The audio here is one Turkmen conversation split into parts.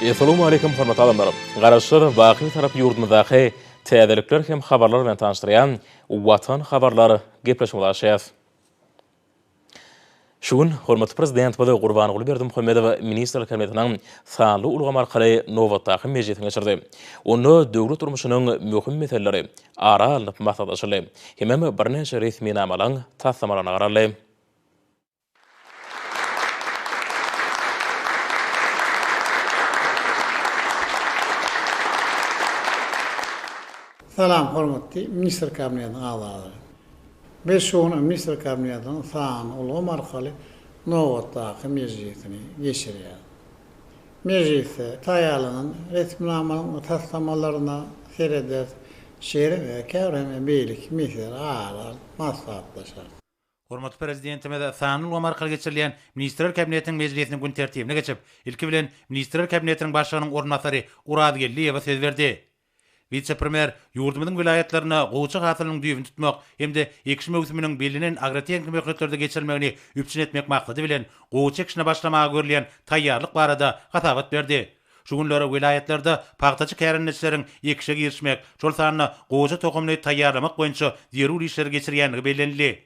Essalamu Aleýkum hormatly adamlar! Garaşsyz, baky tarap ýurdumyzdaky täzelikler hem habarlar bilen tanyşdyrýan Watan habarlar gepleşigimizi açýas. Şu gün hormatly Prezidentimiz Gurbanguly Berdimuhamedow Ministrler Kabinetiniň sanly ulgam arkaly nobatdaky mejlisini geçirdi. Onda döwlet durmuşynyň möhüm meseleleri ara alnyp maslahatlaşyldy hemem birnäçe resminamalaryň taslamalaryna garaldy. Salam hormatly Ministr Kabinetiniň agzalary. Biz şu gün Ministr Kabinetiniň sanly ulgam arkaly nobatdaky mejlisini geçirýäris. Mejlisde taýýarlanan resminamanyň taslamalaryna serederis, şeýle-de käbir hem beýleki meseleleri ara alyp maslahatlaşarys. Hormatly Prezidentimiz sanly ulgam arkaly geçirilýän Ministrler Kabinetiniň mejlisiniň gün tertibine geçip, ilki bilen, Ministrler Kabinetiniň Başlygynyň orunbasary Oraz Geldiýewe söz berdi. Wise-premýer ýurdumyzyň welaýatlarynda gowuça hasylynyň düýbüni tutmak hem-de ekiş möwsüminiň bellenen agrotehniki möhletlerde geçirilmegini üpjün etmek maksady bilen, gowuça ekişine başlamaga görülýän taýýarlyk barada hasabat berdi. Şu günler welaýatlarda pagtaçy kärendeçileriň ekişe girişmek, şol sanda goja tohumyny taýýarlamak boýunça zerur işleri geçirýändigi bellenildi.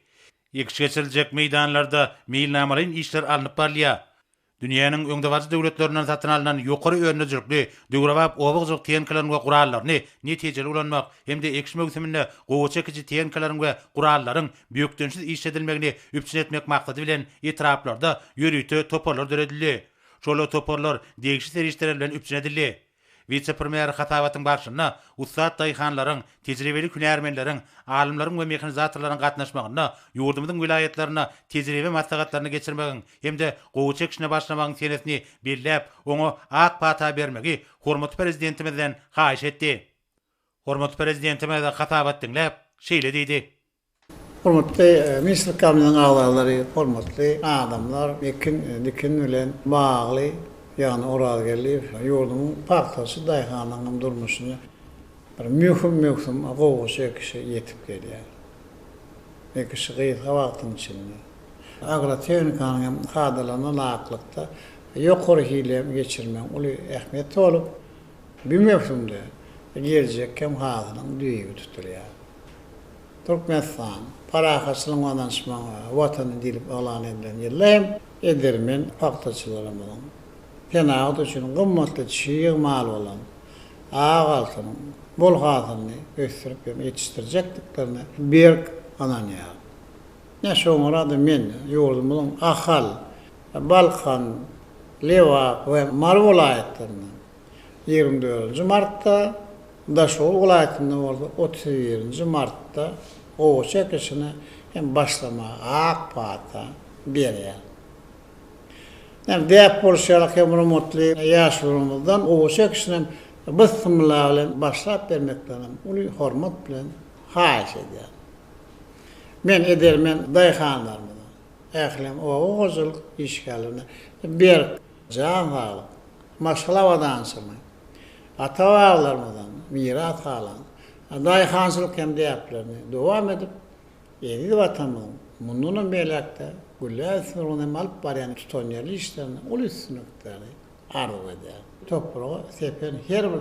Ekiş geçiriljek meýdanlarda meýilnamalaýyn işler alnyp barylýar. Dünýäniň öňdebaryjy döwletlerinden satyn alnan ýokary önderijlikli döwrebap oba hojalyk tehnikalaryny we gurallaryny netijeli ulanmak hem-de ekiş möwsüminde gowaça ekiji tehnikalaryň we gurallaryň bökdençsiz işledilmegini üpjün etmek maksady bilen etraplarda ýörite toparlar döredildi. Şol toparlar degişli serişdeler bilen üpjün edildi. Wise-premýer hasabatyň barşynda ussat daýhanlaryň, tejribeli hünärmenleriň, alymlaryň we mehanizatorlaryň gatnaşmagynda ýurdumyzyň welaýatlarynda tejribe maslahatlaryny geçirmegiň hem-de gowaça ekişine başlamagyň senesini belläp, oňa ak pata bermegi hormatly Prezidentimizden haýyş etdi. Hormatly Prezidentimiz hasabat diňläp, şeýle diýdi. Hormatly ministrlikamiziň agzalary, hormatly adamlar, ekin, dikin bilen bagly, ýagny Orazgeldiýew ýurdumyň pagtaçy daýhanynyň durmuşyny bir möhüm möwsüm gowaça ekişe ýetip gelýär. Ekişi gysga wagtyň içinde. Agrotehnikanyň hem kadalaryna laýyklykda ýokary hile geçirmegiň uly ähmiýeti bolup, bu möwsümde geljek hem hasylyň düýbi tutulýar. Türkmenistan, parahatçylygyň we ynanyşmagyň Watany diýlip yglan edilen ýylda hem edermen pagtaçylarymyzyň senagat üçin gymmatly çig mal bolan ak altynyň bol hasylyny ösdürip hem ýetişdirjekdiklerine berk ynanýaryn. Ine, şoňara-da men ýurdumyzyň Ahal, Balkan, Lebap we Mary welaýatlaryndan, ýigrimi dördünji martda, Daşoguz welaýatynda bolsa otuz birinji martda gowaça ekişine hem başlamaga ak pata berýär. Ýöne däp bolşy ýaly, hemrumutly ýaşularymyzdan gowaça ekişine hem bysmylla bilen başlap bermeklerinem uly hormat bilen haýyş edýärin. Men edermen daýhanlarymyza, ählem oba hojalyk işgärlerine berk, Jan saglyk, maşgala abadançylygy, ata-babalarymyzdan miras galan daýhançylyk hem däplerini dowam edip, eziz Watanymyzyň mundanam beýläk-de gülläp ösmegi ugrunda hem alyp barýan tutanýerli işlerinde uly üstünlikleri arzuw edýärin. Topraga sepen her bir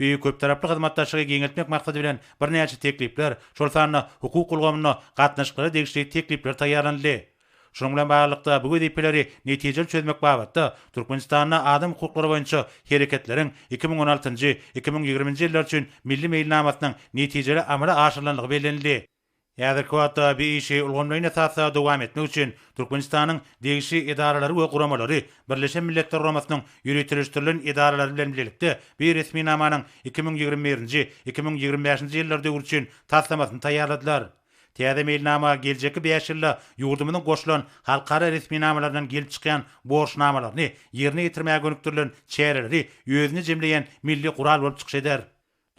Beýik köptaraply hyzmatdaşlygy giňeltmek maksady bilen birnäçe teklipler, şol sanda hukuk ulgamynda gatnaşyklara degişli teklipler taýýarlanyldy. Şunuň bilen baglylykda, bu wezipeleri netijeli çözmek babatda Türkmenistanda adam hukuklary boýunça hereketleriň iki müň on altynjy, iki müň ýigriminji ýyllar üçin Milli meýilnamasynyň netijeli amala aşyrylandygy bellenildi. Häzirki wagtda bu işi ulgamlaýyn esasda dowam etmek üçin Türkmenistanyň degişli edaralary we guramalary Birleşen Milletler Guramasynyň ýöriteleşdirilen edaralary bilen bilelikde bu resminamanyň iki müň ýigrimi birinji, iki müň ýigrimi bäşinji ýyllar döwri üçin taslamasyny taýýarladylar. Täze meýilnama geljekki bäş ýylda ýurdumyzyň goşulan halkara resminamalaryndan gelip çykýan borçnamalaryny ýerine ýetirmäge gönükdirilen çäreleri özünde jemleýän milli gural bolup çykyş eder.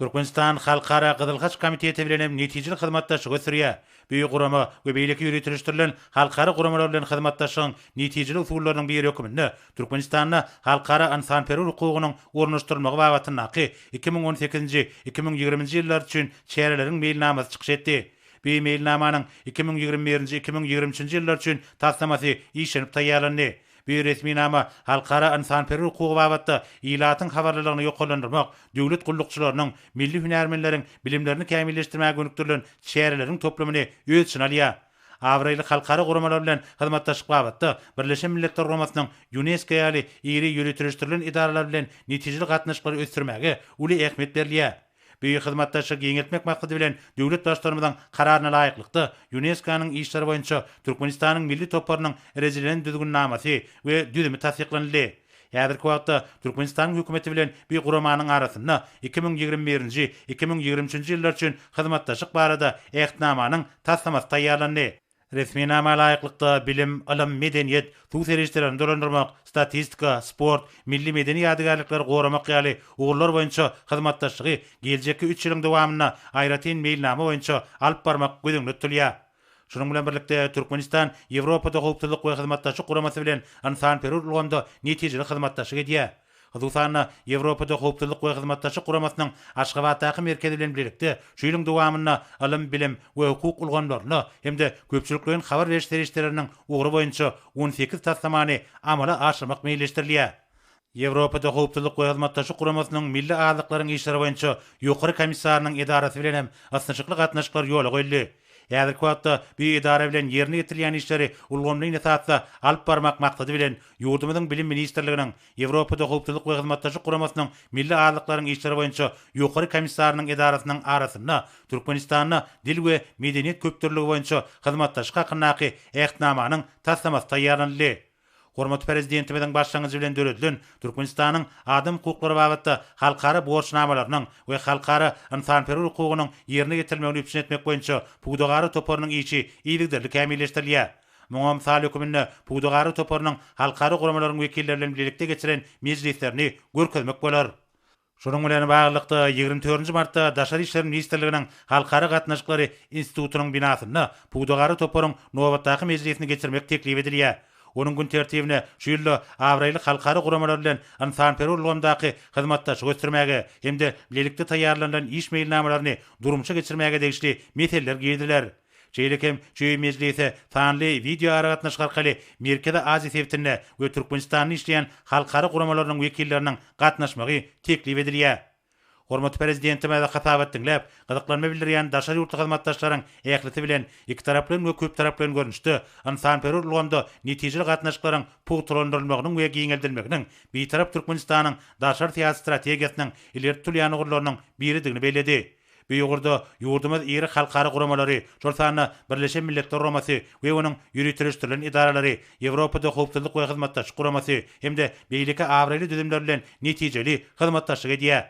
Türkmenistan Halkara Gyzyl Haç Komiteti bilen hem netijeli hyzmatdaşlyk ösdürýär. Bu gurama we beýleki ýöriteleşdirilen halkara guramalar bilen hyzmatdaşlygyň netijeli usullarynyň biri hökmünde Türkmenistanda halkara ynsanperwer hukugynyň ornaşdyrylmagy babatyndaky iki müň on sekizinji, iki müň ýigriminji ýyllar üçin çäreleriň meýilnamasy çykyş etdi. Bu meýilnamanyň iki müň ýigrimi birinji, iki müň ýigrimi üçünji ýyllar üçin taslamasy işlenip taýýarlandy. Bu resminama halkara ynsanperwer hukugy babatda ilatyň habarlylygyny ýokarlandyrmak, döwlet gullukçylarynyň, milli hünärmenleriň bilimlerini kämilleşdirmäge gönükdirilen çäreleriň toplumyny öz içine alýar. Abraýly halkara guramalar bilen hyzmatdaşlyk babatda Birleşen Milletler Guramasynyň, Ýunesko ýaly iri ýöriteleşdirilen edaralar bilen netijeli gatnaşyklary ösdürmäge uly ähmiýet berilýär. Beýik hyzmatdaşlygy giňeltmek maksady bilen, döwlet Baştutanymyzyň Kararyna laýyklykda, Ýunesko-nyň işleri boýunça Türkmenistanyň milli toparynyň rejelilen düzgünnamasy we düzümi tassyklanyldy. Häzirki wagtda Türkmenistanyň Hökümeti bilen bi guramanyň arasynda iki müň ýigrimi birinji, iki müň ýigrimi üçünji ýyllar üçin hyzmatdaşlyk barada Ähtnamanyň taslamasy taýýarlandy. Resminama laýyklykda, bilim, ylym, medeniýet, suw serişdelerini dolandyrmak, statistika, sport, milli medeni ýadygärlikleri goramak ýaly ugurlar boýunça hyzmatdaşlygy geljekki üç ýylyň dowamynda aýratyn meýilnama boýunça alyp barmak göz öňünde tutulýar. Şunuň bilen birlikde, Türkmenistan Ýewropada Howpsuzlyk we Hyzmatdaşlyk Guramasy bilen ynsanperwer ulgamda netijeli hyzmatdaşlyk edýär. Hususan-da, Ýewropada Howpsuzlyk we Hyzmatdaşlyk Guramasynyň Aşgabatdaky merkezi bilen bilelikde şu ýylyň dowamynda ylym, bilim we hukuk ulgamlarynda hem-de köpçülikleýin habar beriş serişdeleriniň ugry boýunça on sekiz taslamany amala aşyrmak meýilleşdirilýär. Ýewropada Howpsuzlyk we Hyzmatdaşlyk Guramasynyň Milli azlyklaryň işleri boýunça Ýokary komissarynyň edarasy bilen hem ysnyşykly gatnaşyklar ýola goýuldy. Häzirki wagtda bu edara bilen ýerine ýetirilýän işleri ulgamlaýyn esasda alyp barmak maksady bilen, ýurdumyzyň Bilim ministrliginiň, Ýewropada Howpsuzlyk we Hyzmatdaşlyk Guramasynyň Milli azlyklaryň işleri boýunça Ýokary komissarynyň edarasynyň arasynda Türkmenistanda Dil we medeniýet köpdürlüligi boýunça hyzmatdaşlyk hakyndaky Ähtnamanyň taslamasy taýýarlanyldy. Hormatly Prezidentimiziň başlangyjy bilen döredilen Türkmenistanyň adam hukuklary babatda halkara borçnamalarynyň we halkara ynsanperwer hukugynyň ýerine ýetirilmegini üpjün etmek boýunça pudagara toparynyň işi yzygiderli kämilleşdirilýär. Muňa mysal höküminde pudagara toparynyň halkara guramalaryň wekilleri bilen bilelikde geçiren mejlislerini görkezmek bolar. Şunuň bilen baglylykda, ýigrimi dördünji martda Daşary işler ministrliginiň Halkara gatnaşyklary institutynyň binasynda pudagara toparyň nobatdaky mejlisini geçirmek teklip edilýär. Onuň gün tertibine şu ýylda abraýly halkara guramalar bilen ynsanperwer ulgamdaky hyzmatdaşlygy ösdürmäge hem-de bilelikde taýýarlanylan iş meýilnamalaryny durmuşa geçirmäge degişli meseleler giriziler. Şeýle hem Çöý mejlisi sanly wideoaragatnaşyk arkaly Merkezi Aziýa sebitinde we Türkmenistanda işleýän halkara guramalarynyň wekilleriniň gatnaşmagy teklip edilýär. Hormatly Prezidentimize hasabat diňläp, gyzyklanma bildirýän daşary ýurtly hyzmatdaşlaryň ählisi bilen ikitaraplaýyn we köptaraplaýyn görnüşde ynsanperwer ulgamda netijeli gatnaşyklaryň pugtalandyrylmagynyň we giňeldilmeginiň Bitarap Türkmenistanyň daşary syýasy strategiýasynyň ileri tutulýan ugurlarynyň biridigini belledi. Bu ugurda ýurdumyz iri halkara guramalary, şol sanda Birleşen Milletler Guramasy we onuň ýöriteleşdirilen edaralary, Ýewropada Howpsuzlyk we Hyzmatdaşlyk Guramasy hem-de beýleki abraýly düzümler bilen netijeli hyzmatdaşlyk edýär.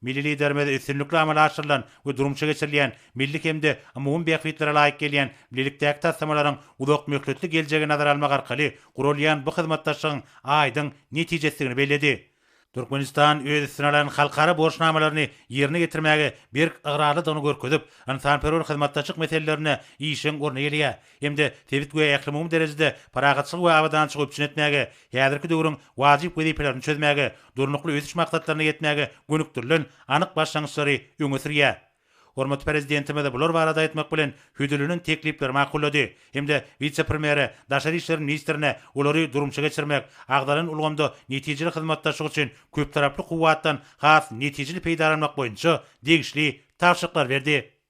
Milli Liderimiz üstünlikli amala aşyrylan we durmuşa geçirilýän milli hem-de umumy bähbitlere laýyk gelýän bilelikdäki taslamalaryň uzakmöhletli geljegi nazara almak arkaly guralýan bu hyzmatdaşlygyň aýdyň netijesidigini belledi. Türkmenistan öz üstüne alan halkara borçnamalaryny ýerine ýetirmäge berk ygrarlydygyny görkezip, ynsanperwer hyzmatdaşlyk meselelerine işjeň orun eýeleýär hem-de sebit we ählumumy derejede parahatçylygy we abadançylygy üpjün etmäge, häzirki döwrüň wajyp wezipelerini çözmäge, Durnukly ösüş maksatlaryna ýetmäge gönükdirilen anyk başlangyçlary öňe sürýär. Hormatly Prezidentimiz bular barada aýtmak bilen, hödürlenen teklipleri makullady hem-de wise-premýere, daşary işler ministrine olary durmuşa geçirmek, agzalan ulgamda netijeli hyzmatdaşlyk üçin köptaraply kuwwatdan has netijeli peýdalanmak boýunça degişli tabşyryklary berdi.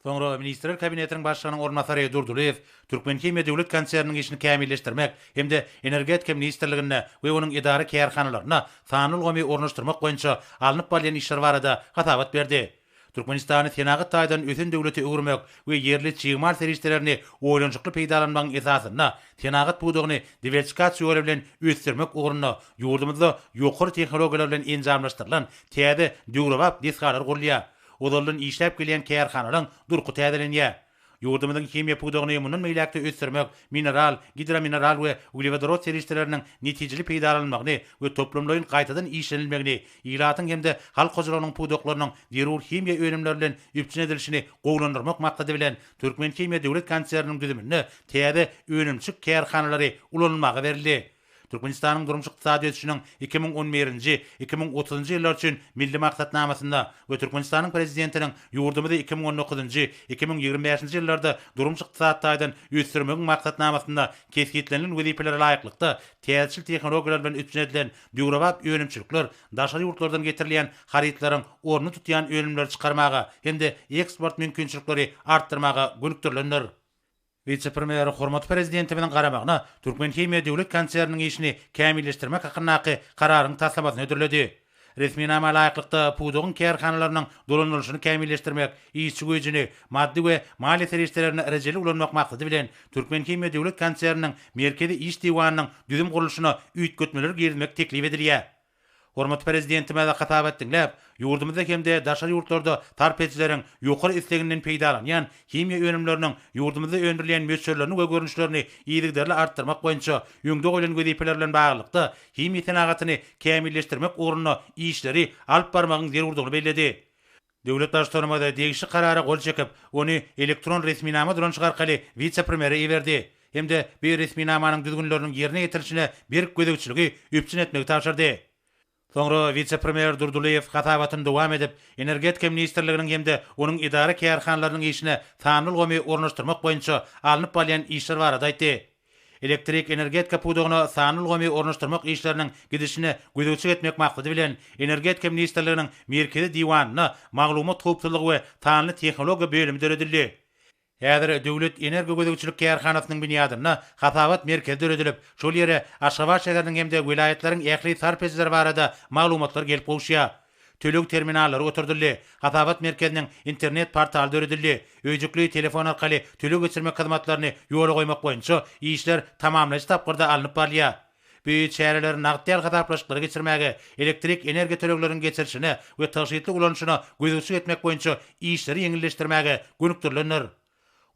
Soňra Ministrler Kabinetiniň Başlygynyň orunbasary Durdylyýew Türkmenhimiýa döwlet konserniniň işini kämilleşdirmek hem-de Energetika ministrliginde we onuň edara-kärhanalarynda sanly ulgamy ornaşdyrmak boýunça alnyp barylýan işler barada hasabat berdi. Türkmenistany senagat taýdan ösen döwlete öwürmek we ýerli çig mal serişdelerini oýlanyşykly peýdalanmagyň esasynda senagat pudagyny diwersikasiýoly bilen ösdürmek ugrunda ýurdumyzda ýokary tehnologiýalar bilen enjamlaşdyrylan täze döwrebap desgalar gurulýar, ozaldan işläp gelýän kärhanalaryň durky täzelenýär. Ýurdumyzyň himiýa pudagyny mundan beýläk-de ösdürmek, mineral, gidromineral we uglewodorod serişdeleriniň netijeli peýdalanylmagyny we toplumlaýyn gaýtadan işlenilmegini, ilatyň hem-de halk hojalygynyň pudaklarynyň zerur himiýa önümleri bilen üpjün edilişini gowulandyrmak maksady bilen, Türkmenhimiýa döwlet konserniniň düzüminde täze önümçik kärhanalary ulanylmaga berildi. Türkmenistanyň durmuş-ykdysady ösüşiniň iki müň on birinji, iki müň otuzynjy ýyllar üçin Milli maksatnamasynda we Türkmenistanyň Prezidentiniň ýurdumyzy iki müň on dokuzynjy, iki müň ýigrimi bäşinji ýyllarda durmuş-ykdysady taýdan ösdürmegiň maksatnamasynda kesgitlenilen wezipelere laýyklykda, täzeçil tehnologiýalar bilen üpjün edilen döwrebap önümçilikler, daşary ýurtlardan getirilýän harytlaryň ornuny tutýan önümleri çykarmaga hem-de eksport mümkinçilikleri artdyrmaga gönükdirilendir. Wise-premýer hormatly Prezidentimiziň garamagyna Türkmenhimiýa döwlet konserniniň işini kämilleşdirmek hakyndaky Kararyň taslamasyny hödürledi. Resminama laýyklykda, pudagyň kärhanalarynyň dolandyrylyşyny kämilleşdirmek, işçi güýjüni, maddy we maliýe serişdelerini rejeli ulanmak maksady bilen, Türkmenhimiýa döwlet konserniniň Merkezi iş diwanynyň düzüm gurluşyna üýtgetmeleri girizmek teklip edilýär. Hormatly Prezidentimize hasabat diňläp, ýurdumyzda hem-de daşary ýurtlarda sarp edijileriň ýokary isleginden peýdalanýan himiýa önümleriniň ýurdumyzda öndürilýän möçberlerini we görnüşlerini yzygiderli artdyrmak boýunça öňde goýlan wezipeler bilen baglylykda himiýa senagatyny kämilleşdirmek ugrunda işleri alyp barmagyň zerurdygyny belledi. Döwlet Baştutanymyz degişli karara gol çekip, ony elektron resminama dolanyşyk arkaly wise-premýere iberdi hem-de bu resminamanyň düzgünleriniň ýerine ýetirilişine berk gözegçiligi üpjün etmegi tabşyrdy. Soňra wise-premýer Durdylyýew hasabatyny dowam edip, Energetika ministrliginiň hem-de onuň edara-kärhanalarynyň işine sanly ulgamy ornaşdyrmak boýunça alnyp barylýan işler barada aýtdy. Elektrik energetika pudagyna sanly ulgamy ornaşdyrmak işleriniň gidişine gözegçilik etmek maksady bilen, Energetika ministrliginiň Merkezi diwanynda Maglumat howpsuzlygy we sanly tehnologiýa bölümi döredildi. Häzir Döwlet energogözegçilik kärhanasynyň binýadynda hasabat merkezi döredilip, şol ýere Aşgabat şäheriniň hem-de welaýatlaryň ähli sarp edijileri barada maglumatlar gelip gowuşýar. Töleg terminallary oturdyldy. Hasabat merkeziniň internet portaly döredildi. Öýjükli telefon arkaly töleg geçirmek hyzmatlaryny ýola goýmak boýunça işler tamamlaýjy tapgyrda alnyp barylýar. Bu çäreler nagt däl hasaplaşyklary geçirmäge, elektrik energiýa tölegleriniň geçirilişine we tygşytly ulanyşyna gözegçilik etmek boýunça işleri ýeňilleşdirmäge gönükdirilendir.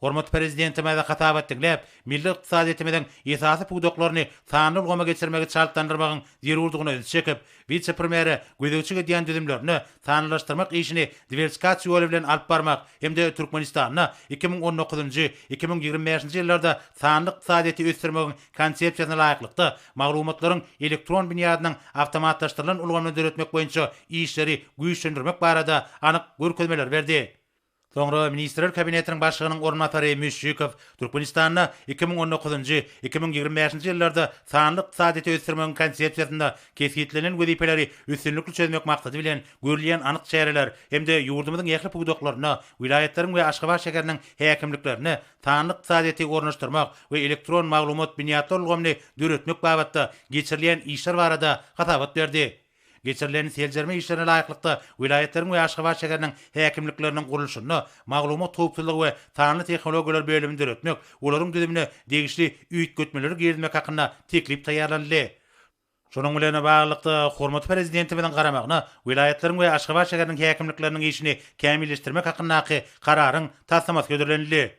Hormatly Prezidentimize hasabat diňläp, milli ykdysadyýetimiziň esasy pudaklaryny sanly ulgama geçirmegi çaltlandyrmagyň zerurdygyna ünsi çekip, wise-premýere gözegçilik edýän düzümlerinde sanlylaşdyrmak işini diwersikasiýa ýoly bilen alyp barmak hem-de Türkmenistanda iki müň on dokuzynjy, iki müň ýigrimi bäşinji ýyllarda sanly ykdysadyýeti ösdürmegiň Konsepsiýasyna laýyklykda maglumatlaryň elektron binýadynyň awtomatlaşdyrylan ulgamyny döretmek boýunça işleri güýçlendirmek barada anyk görkezmeleri berdi. Soňra Ministrler Kabinetiniň Başlygynyň orunbasary Müşşikow Türkmenistanda iki müň on dokuzynjy, iki müň ýigrimi bäşinji ýyllarda sanly ykdysadyýeti ösdürmegiň Konsepsiýasynda kesgitlenilen wezipeleri üstünlikli çözmek maksady bilen görülýän anyk çäreler hem-de ýurdumyzyň ähli pudaklarynda, welaýatlaryň we Aşgabat şäheriniň häkimliklerinde sanly ykdysadyýeti ornaşdyrmak we elektron maglumat binýatlar ulgamyny döretmek babatda geçirilýän işler barada hasabat berdi. Geçirilen seljerme işlerine laýyklykda, welaýatlaryň we Aşgabat şäheriniň häkimlikleriniň gurluşyny, maglumat howpsuzlygy we sanly tehnologiýalar bölümini döretmek, olaryň düzümine degişli üýtgetmeleri girizmek hakynda teklip taýýarlanyldy. Şunuň bilen baglylykda, hormatly Prezidentimiziň garamagyna welaýatlaryň we Aşgabat şäheriniň häkimlikleriniň işini kämilleşdirmek hakyndaky Kararyň taslamasy hödürlenildi.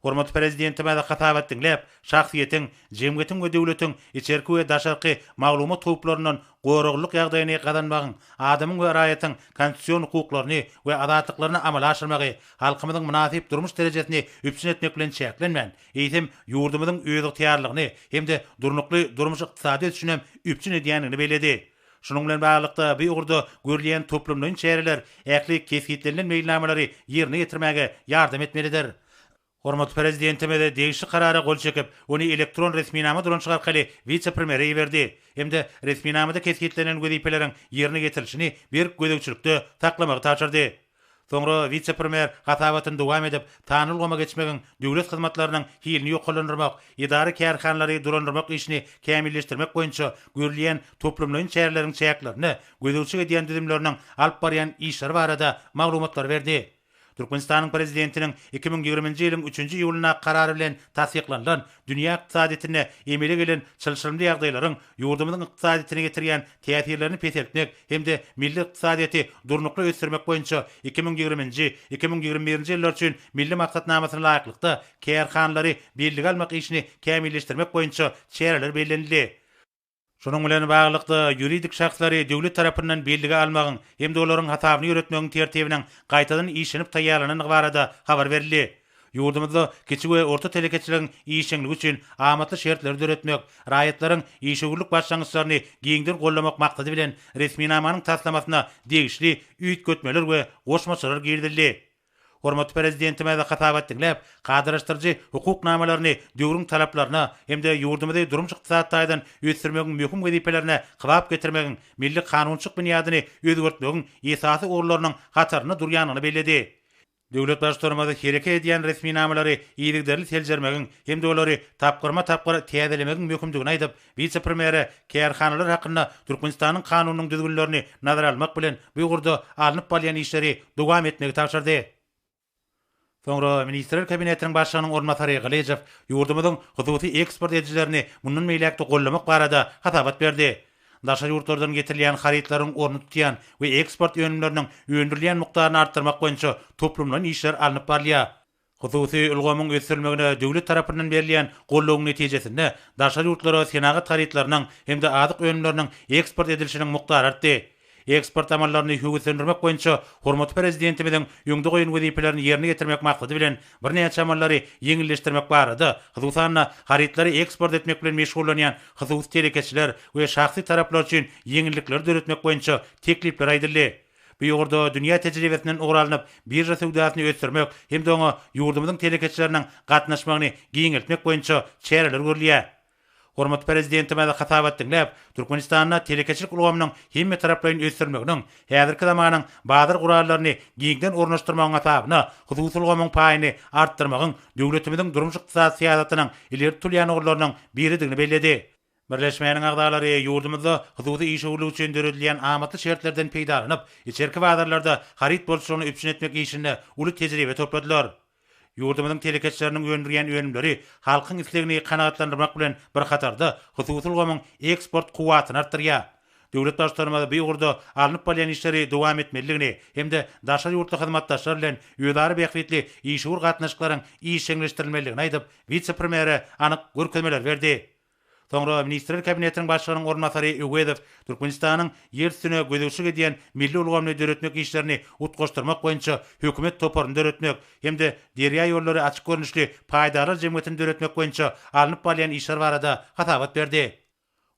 Hormatly Prezidentimiz hasabat diňläp, şahsyýetiň, jemgyýetiň we döwletiň içerki we daşarky maglumat howplaryndan goraglylyk ýagdaýyny gazanmagyň, adamyň we raýatyň konstitusion hukuklaryny we azatlyklaryny amala aşyrmagy halkymyzyň mynasyp durmuş derejesini üpjün etmek bilen çäklenmän, eýsem, ýurdumyzyň özygtyýarlygyny hem-de durnukly durmuş-ykdysady ösüşinem üpjün edýändigini belledi. Şunuň bilen baglylykda, bu ugurda görülýän toplumlaýyn çäreler ähli kesgitlenilen meýilnamalary ýerine ýetirmäge ýardam etmelidir. Hormatly Prezidentimiz degişli Karara gol çekip, ony elektron resminama dolanyşygy arkaly wise-premýere iberdi hem-de resminamada kesgitlenilen wezipeleriň ýerine ýetirilişini berk gözegçilikde saklamagy tabşyrdy. Soňra wise-premýer hasabatyny dowam edip, sanly ulgama geçmegiň döwlet hyzmatlarynyň hilini ýokarlandyrmak, edara-kärhanalary dolandyrmak işini kämilleşdirmek boýunça görülýän toplumlaýyn çäreleriň çäklerinde gözegçilik edýän düzümleriniň alyp barýan işleri barada maglumatlary berdi. Türkmenistanyň Prezidentiniň iki müň ýigriminji ýylyň üçünji iýulyndaky Karary bilen tassyklanylan Dünýä ykdysadyýetinde emele gelen çylşyrymly ýagdaýlaryň ýurdumyzyň ykdysadyýetine getirýän täsirlerini peseltmek hem-de milli ykdysadyýeti durnukly ösdürmek boýunça iki müň ýigriminji, iki müň ýigrimi birinji ýyllar üçin Milli maksatnamasyna laýyklykda, kärhanalary bellige almak işini kämilleşdirmek boýunça çäreler bellenildi. Şunuň bilen baglylykda, ýuridik şahslary döwlet tarapyndan bellige almagyň hem-de olaryň hasabyny ýöretmegiň tertibiniň gaýtadan işlenip taýýarlanandygy barada habar berildi. Ýurdumyzda kiçi we orta telekeçiligiň işjeňligi üçin amatly şertleri döretmek, raýatlaryň işewürlik başlangyçlaryny giňden goldamak maksady bilen, resminamanyň taslamasyna degişli üýtgetmeler we goşmaçalar girizildi. Hormatly Prezidentimiz hasabat diňläp, kadalaşdyryjy hukuk namalaryny döwrüň talaplaryna hem-de ýurdumyzy durmuş-ykdysady taýdan ösdürmegiň möhüm wezipelerine kybap getirmegiň, milli kanunçylyk binýadyny özgertmegiň esasy ugurlarynyň hatarynda durýandygyny belledi. Döwlet Baştutanymyz hereket edýän resminamalary yzygiderli seljermegiň hem-de olary tapgyrma-tapgyr täzelemegiň möhümdigini aýdyp, Wise-premýere kärhanalar hakynda Türkmenistanyň Kanunynyň düzgünlerini nazara almak bilen, bu ugurda alnyp barylýan işleri dowam etmegi tabşyrdy. Soňra Ministrler Kabinetiniň Başlygynyň orunbasary Gylyjow ýurdumyzyň hususy eksport edijilerini mundan beýläk-de gollamak barada hasabat berdi. Daşary ýurtlardan getirilýän harytlaryň ornuny tutýan we eksport önümleriniň öndürilýän mukdaryny artdyrmak boýunça toplumlaýyn işler alnyp barylýar. Hususy ulgamyň ösdürilmegine döwlet tarapyndan berilýän goldawyň netijesinde, daşary ýurtlara senagat harytlarynyň hem-de azyk önümleriniň eksport edilişiniň mukdary artdy. Eksport amallaryny höweslendirmek boýunça hormatly Prezidentimiziň öňde goýan wezipelerini ýerine ýetirmek maksady bilen, birnäçe amallary ýeňilleşdirmek barada, hususan-da, harytlary eksport etmek bilen meşgullanýan hususy telekeçiler we şahsy taraplar üçin ýeňillikleri döretmek boýunça teklipler aýdyldy. Bu ugurda dünýä tejribesinden ugur alnyp, birža söwdasyny ösdürmek hem-de oňa ýurdumyzyň telekeçileriniň gatnaşmagyny giňeltmek boýunça çäreler görülýär. Hormatly Prezidentimiz hasabat diňläp, Türkmenistanda telekeçilik ulgamynyň hemmetaraplaýyn ösdürilmeginiň, häzirki zamanyň bazar gurallaryny giňden ornaşdyrmagyň hasabyna hususy ulgamyň paýyny artdyrmagyň döwletimiziň durmuş-ykdysady syýasatynyň ileri tutulýan ugurlarynyň biridigini belledi. Birleşmäniň agzalary ýurdumyzda hususy işewürlik üçin döredilýän amatly şertlerden peýdalanyp, içerki bazarlarda haryt bolçulygyny üpjün etmek işinde uly tejribe topladylar. Ýurdumyzyň telekeçileriniň öndürýän önümleri halkyň islegini kanagatlandyrmak bilen bir hatarda, hususy ulgamyň eksport kuwwatyny artdyrýar, Döwlet Baştutanymyz bu ugurda alnyp barylýan işleri dowam etmelidigini hem-de daşary ýurtly hyzmatdaşlar bilen özara bähbitli işewür gatnaşyklaryň işjeňleşdirilmelidigini aýdyp, wise-premýere anyk görkezmeler berdi. Soňra Ministrler Kabinetiniň Başlygynyň orunbasary Öwezow Türkmenistanyň ýer üstüne gözegçilik edýän milli ulgamyny döretmek işlerini utgaşdyrmak boýunça hökümet toparyny döretmek hem-de Derýaýollary açyk görnüşli paýdarlar jemgyýetini döretmek boýunça alnyp barylýan işler barada hasabat berdi.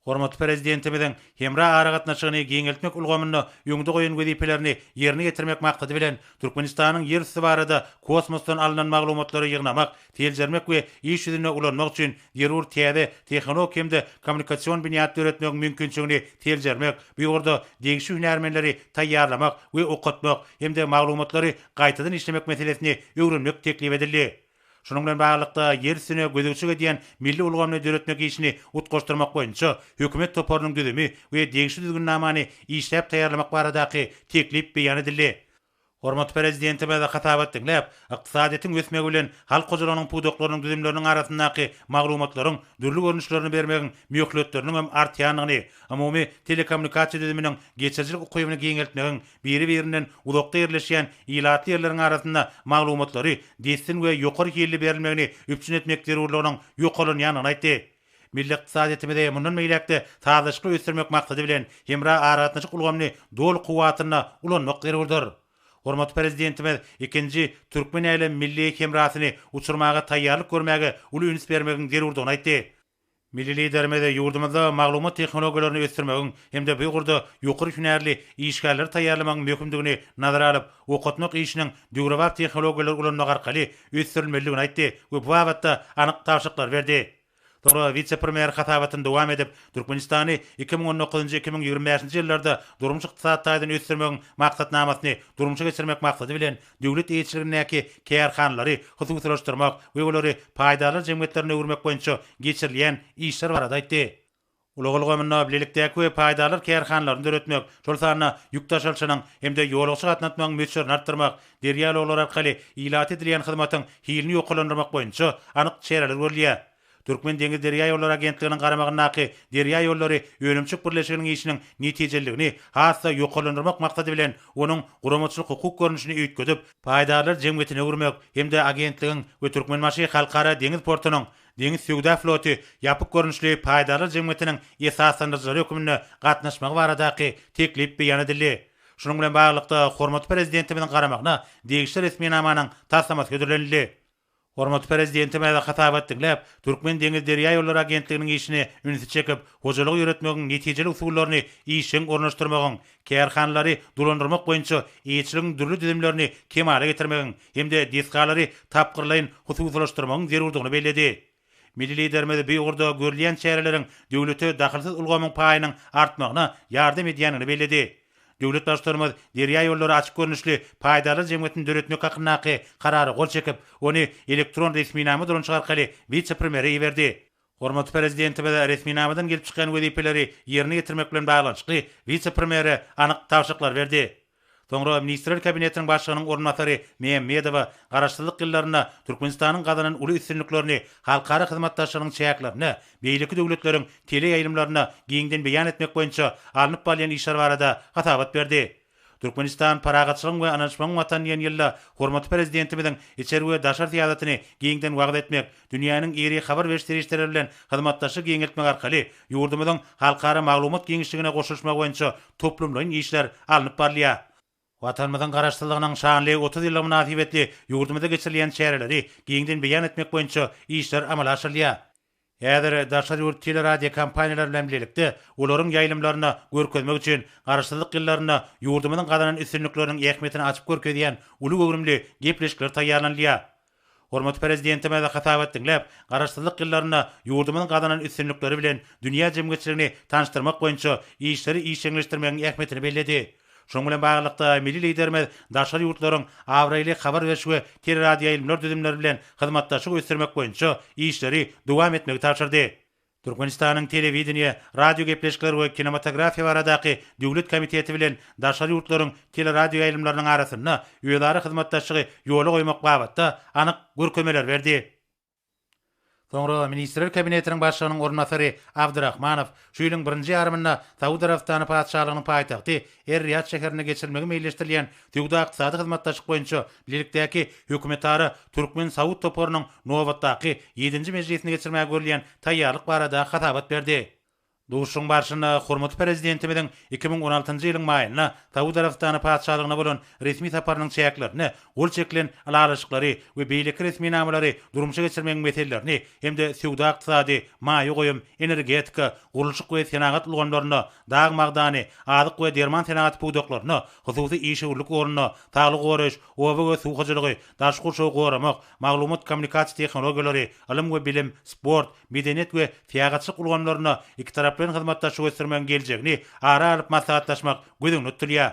Hormatly Prezidentimiziň hemra aragatnaşygyny giňeltmek ulgamynda öňde goýan wezipelerini ýerine ýetirmek maksady bilen, Türkmenistanyň ýer üsti barada kosmosdan alnan maglumatlary ýygnamak, seljermek we iş ýüzünde ulanmak üçin zerur täze tehnologik hem-de kommunikasion binýat döretmegiň mümkinçiligini seljermek, bu ýurda degişli hünärmenleri taýýarlamak we okatmak hem-de maglumatlary gaýtadan işlemek meselesini öwrenmek teklip edildi. Şunuň bilen baglylykda, ýer üstüne gözegçilik edýän milli ulgamyny döretmek işini utgaşdyrmak boýunça hökümet toparynyň düzümi we degişli düzgünnamany işläp taýýarlamak baradaky teklip beýan edildi. Hormatly Prezidentimiz hasabat diňläp, ykdysadyýetiň ösmegi bilen halk hojalygynyň pudaklarynyň düzümleriniň arasyndaky maglumatlaryň dürli görnüşlerini bermegiň möhletleriniň hem artýandygyny, umumy telekommunikasiýa düzüminiň geçirijilik ukybyny giňeltmegiň Biri-birinden uzakda ýerleşýän ilatly ýerleriň arasynda maglumatlary dessin we ýokary hilli berilmegini üpjün etmek zerurlygynyň ýokarlanýandygyny aýtdy. Milli ykdysadyýetimizi mundan beýläk-de sazlaşykly ösdürmek maksady bilen, hemra aragatnaşyk ulgamyny doly kuwwatynda ulanmak zerurdyr. Hormatly Prezidentimiz ikinji Türkmen-älem milli hemrasyny uçurmaga taýýarlyk görmäge uly üns bermegiň zerurdygyny aýtdy. Milli Liderimiz ýurdumyzda maglumat tehnologiýalaryny ösdürmegiň hem-de bu ugurda ýokary hünärli işgärleri taýýarlamagyň möhümdigini nazara alyp, okatmak işiniň döwrebap tehnologiýalary ulanmak arkaly ösdürilmelidigini aýtdy we bu babatda anyk tabşyryklary berdi. Soňra wise-premýer hasabatyny dowam edip, Türkmenistany iki müň on dokuzynjy-iki müň ýigrimi bäşinji ýyllarda durmuş-ykdysady taýdan ösdürmegiň maksatnamasyny durmuşa geçirmek maksady bilen, döwlet eýeçiligindäki kärhanalary hususylaşdyrmak we olary paýdarlar jemgyýetlerine öwürmek boýunça geçirilýän işler barada aýtdy. Ulag ulgamynda bilelikdäki we paýdarlar kärhanalaryny döretmek, şol sanda ýük daşalyşynyň hem-de ýolagçy gatnatmagyň möçberini artdyrmak, derýa ulaglar arkaly ilata edilýän hyzmatyň hilini ýokarlandyrmak boýunça anyk çäreler görülýär. Türkmen deňiz derýaýollary agentliginiň garamagyndaky Derýaýollary önümçik birleşiginiň işiniň netijeliligini has-da ýokarlandyrmak maksady bilen onuň guramaçylyk-hukuk görnüşini üýtgedip, paýdarlar jemgyýetine öwürmek hem-de agentligiň we Türkmenbaşy Halkara deňiz portunyň Deňiz söwda floty ýapyk görnüşli paýdarlar jemgyýetiniň esaslandyryjylary hökmünde gatnaşmagy baradaky teklip beýan edildi. Şunuň bilen baglylykda, hormatly Prezidentimiziň garamagyna degişli resminamanyň taslamasy hödürlenildi. Hormatly Prezidentimiz hasabat diňläp, Türkmendeňizderýaýollary agentliginiň işine ünsi çekip, hojalygy ýöretmegiň netijeli usullaryny işjeň ornaşdyrmagyň, kärhanalary dolandyrmak boýunça eýeçiligiň dürli düzümlerini kemala getirmegiň hem-de desgalary tapgyrlaýyn hususylaşdyrmagyň zerurdygyny belledi. Milli Liderimiz bu ugurda görülýän çäreleriň döwlete dahylsyz ulgamyň paýynyň artmagyna ýardam edýändigini belledi. Döwlet Baştutanymyz Derýa ýollary açyk görnüşli paýdarlar jemgyýetini döretmek hakyndaky Karara gol çekip, ony elektron resminama dolanyşyk arkaly wise-premýere iberdi. Hormatly Prezidentimiz resminamadan gelip çykýan wezipeleri ýerine ýetirmek bilen baglanyşykly wise-premýere anyk tabşyryklar berdi. Soňra Ministrler Kabinetiniň Başlygynyň orunbasary Mämmedowa Garaşsyzlyk ýyllarynda Türkmenistanyň gazanan uly üstünliklerini halkara hyzmatdaşlygynyň çäklerinde beýleki döwletleriň teleýaýlymlarynda giňden beýan etmek boýunça alnyp barylýan işler barada hasabat berdi. Türkmenistan Parahatçylygyň we ynanyşmagyň Watany diýen ýylda hormatly Prezidentimiziň içeri we daşary syýasatyny giňden wagyz etmek, dünýäniň iri habar beriş serişdeleri bilen hyzmatdaşlygy giňeltmek arkaly ýurdumyzyň halkara maglumat giňişligine goşulyşmagy boýunça toplumlaýyn işler alnyp barylýar. Watanymyzyň Garaşsyzlygynyň şanly otuz ýyllygy mynasybetli ýurdumyzda geçirilýän çäreleri giňden beýan etmek boýunça işler amala aşyrylýar. Häzir daşary ýurt teleradiokompaniýalary bilen bilelikde olaryň ýaýlymlarynda görkezmek üçin Garaşsyzlyk ýyllarynda ýurdumyzyň gazanan üstünlikleriniň ähmiýetini açyp görkezýän uly göwrümli gepleşikler taýýarlanylýar. Hormatly Prezidentimiz hasabat diňläp, Garaşsyzlyk ýyllarynda ýurdumyzyň gazanan üstünlikleri bilen dünýä jemgyýetçiligini tanyşdyrmak boýunça işleri işjeňleşdirmegiň ähmiýetini belledi. Şunuň bilen baglylykda, milli Liderimiz daşary ýurtlaryň abraýly habar beriş we teleradioýaýlymlar düzümleri bilen hyzmatdaşlygy ösdürmek boýunça işleri dowam etmegi tabşyrdy. Türkmenistanyň Telewideniýe, radiogepleşikler we kinematografiýa baradaky döwlet komiteti bilen daşary ýurtlaryň teleradioýaýlymlarynyň arasynda özara hyzmatdaşlygy ýola goýmak babatda anyk görkezmeler berdi. Soňra Ministrler Kabinetiniň Başlygynyň orunbasary Abdyrahmanow şu ýylyň birinji ýarymynda Saud Arabystany Patyşalygynyň paýtagty Er-Riýad şäherinde geçirilmegi meýilleşdirilýän Söwda-ykdysady hyzmatdaşlyk boýunça bilelikdäki hökümetara türkmen-saud toparynyň nobatdaky, ýedinji mejlisini geçirmäge görülýän taýýarlyk barada hasabat berdi. Duşuşygyň barşynda hormatly Prezidentimiziň iki müň on altynjy ýylyň maýynda Saud Arabystany Patyşalygyna bolan resmi saparynyň çäklerinde gol çekilen ylalaşyklary we beýleki resminamalary durmuşa geçirmegiň meselelerini hem-de söwda-ykdysady, maýa goýum, energetika, gurluşyk we senagat ulgamlaryna, dag magdany, azyk we derman senagaty pudaklaryna, hususy işewürlik ornuna, saglygy goraýyş, oba we suw hojalygy, daşky gurşawy goramak, maglumat-kommunikasiýa tehnologiýalary, ylym we bilim, sport, medeniýet we syýahatçylyk ulgamlarynda ikitaraplaýyn hyzmatdaşlygy ösdürmegiň geljegini ara alyp maslahatlaşmak göz öňünde tutulýar.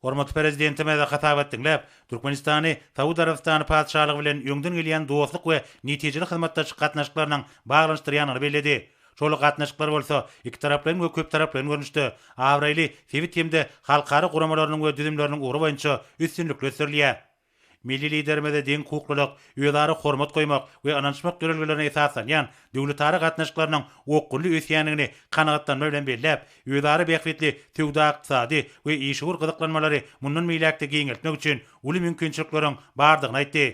Hormatly Prezidentimiz hasabat diňläp, Türkmenistany Saud Arabystany Patyşalygy bilen öňden gelýän dostluk we netijeli hyzmatdaşlyk gatnaşyklarynyň baglanyşdyrýandygyny belledi. Şol gatnaşyklar bolsa ikitaraplaýyn we köptaraplaýyn görnüşde, abraýly sebit hem-de halkara guramalarynyň we düzümleriniň ugry boýunça üstünlikli ösdürilýär. Milli Liderimize deň hukuklylyk, özara hormat goýmak we ynanyşmak ýörelgelerine esaslanýan döwletara gatnaşyklarynyň okgunly ösýändigini kanagatlanma bilen belläp, özara bähbitli söwda-ykdysady we işewür gyzyklanmalary mundan beýläk-de giňeltmek üçin uly mümkinçilikleriň bardygyny aýtdy.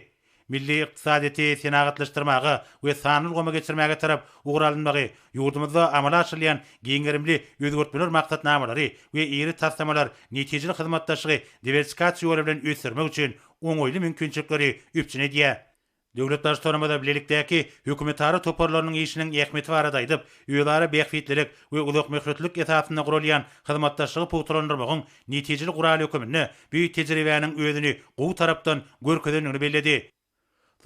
Milli ykdysadyýeti senagatlaşdyrmaga we sanly ulgama geçirmäge tarap ugur alynmagy Ýurdumyzda amala aşyrylýan giň gerimli özgertmeler maksatnamalary we iri taslamalar netijeli hyzmatdaşlygy diwersifikasiýa ýoly bilen ösdürmek üçin oňaýly mümkinçilikleri üpjün edýär. Döwlet Baştutanymyz bilelikdäki hökümetara toparlarynyň işiniň ähmiýeti barada aýdyp, özara bähbitlilik we uzakmöhletlilik esasynda guralýan hyzmatdaşlygy pugtalandyrmagyň netijeli guraly höküminde bu tejribäniň özüni gowy tarapdan görkezendigini belledi.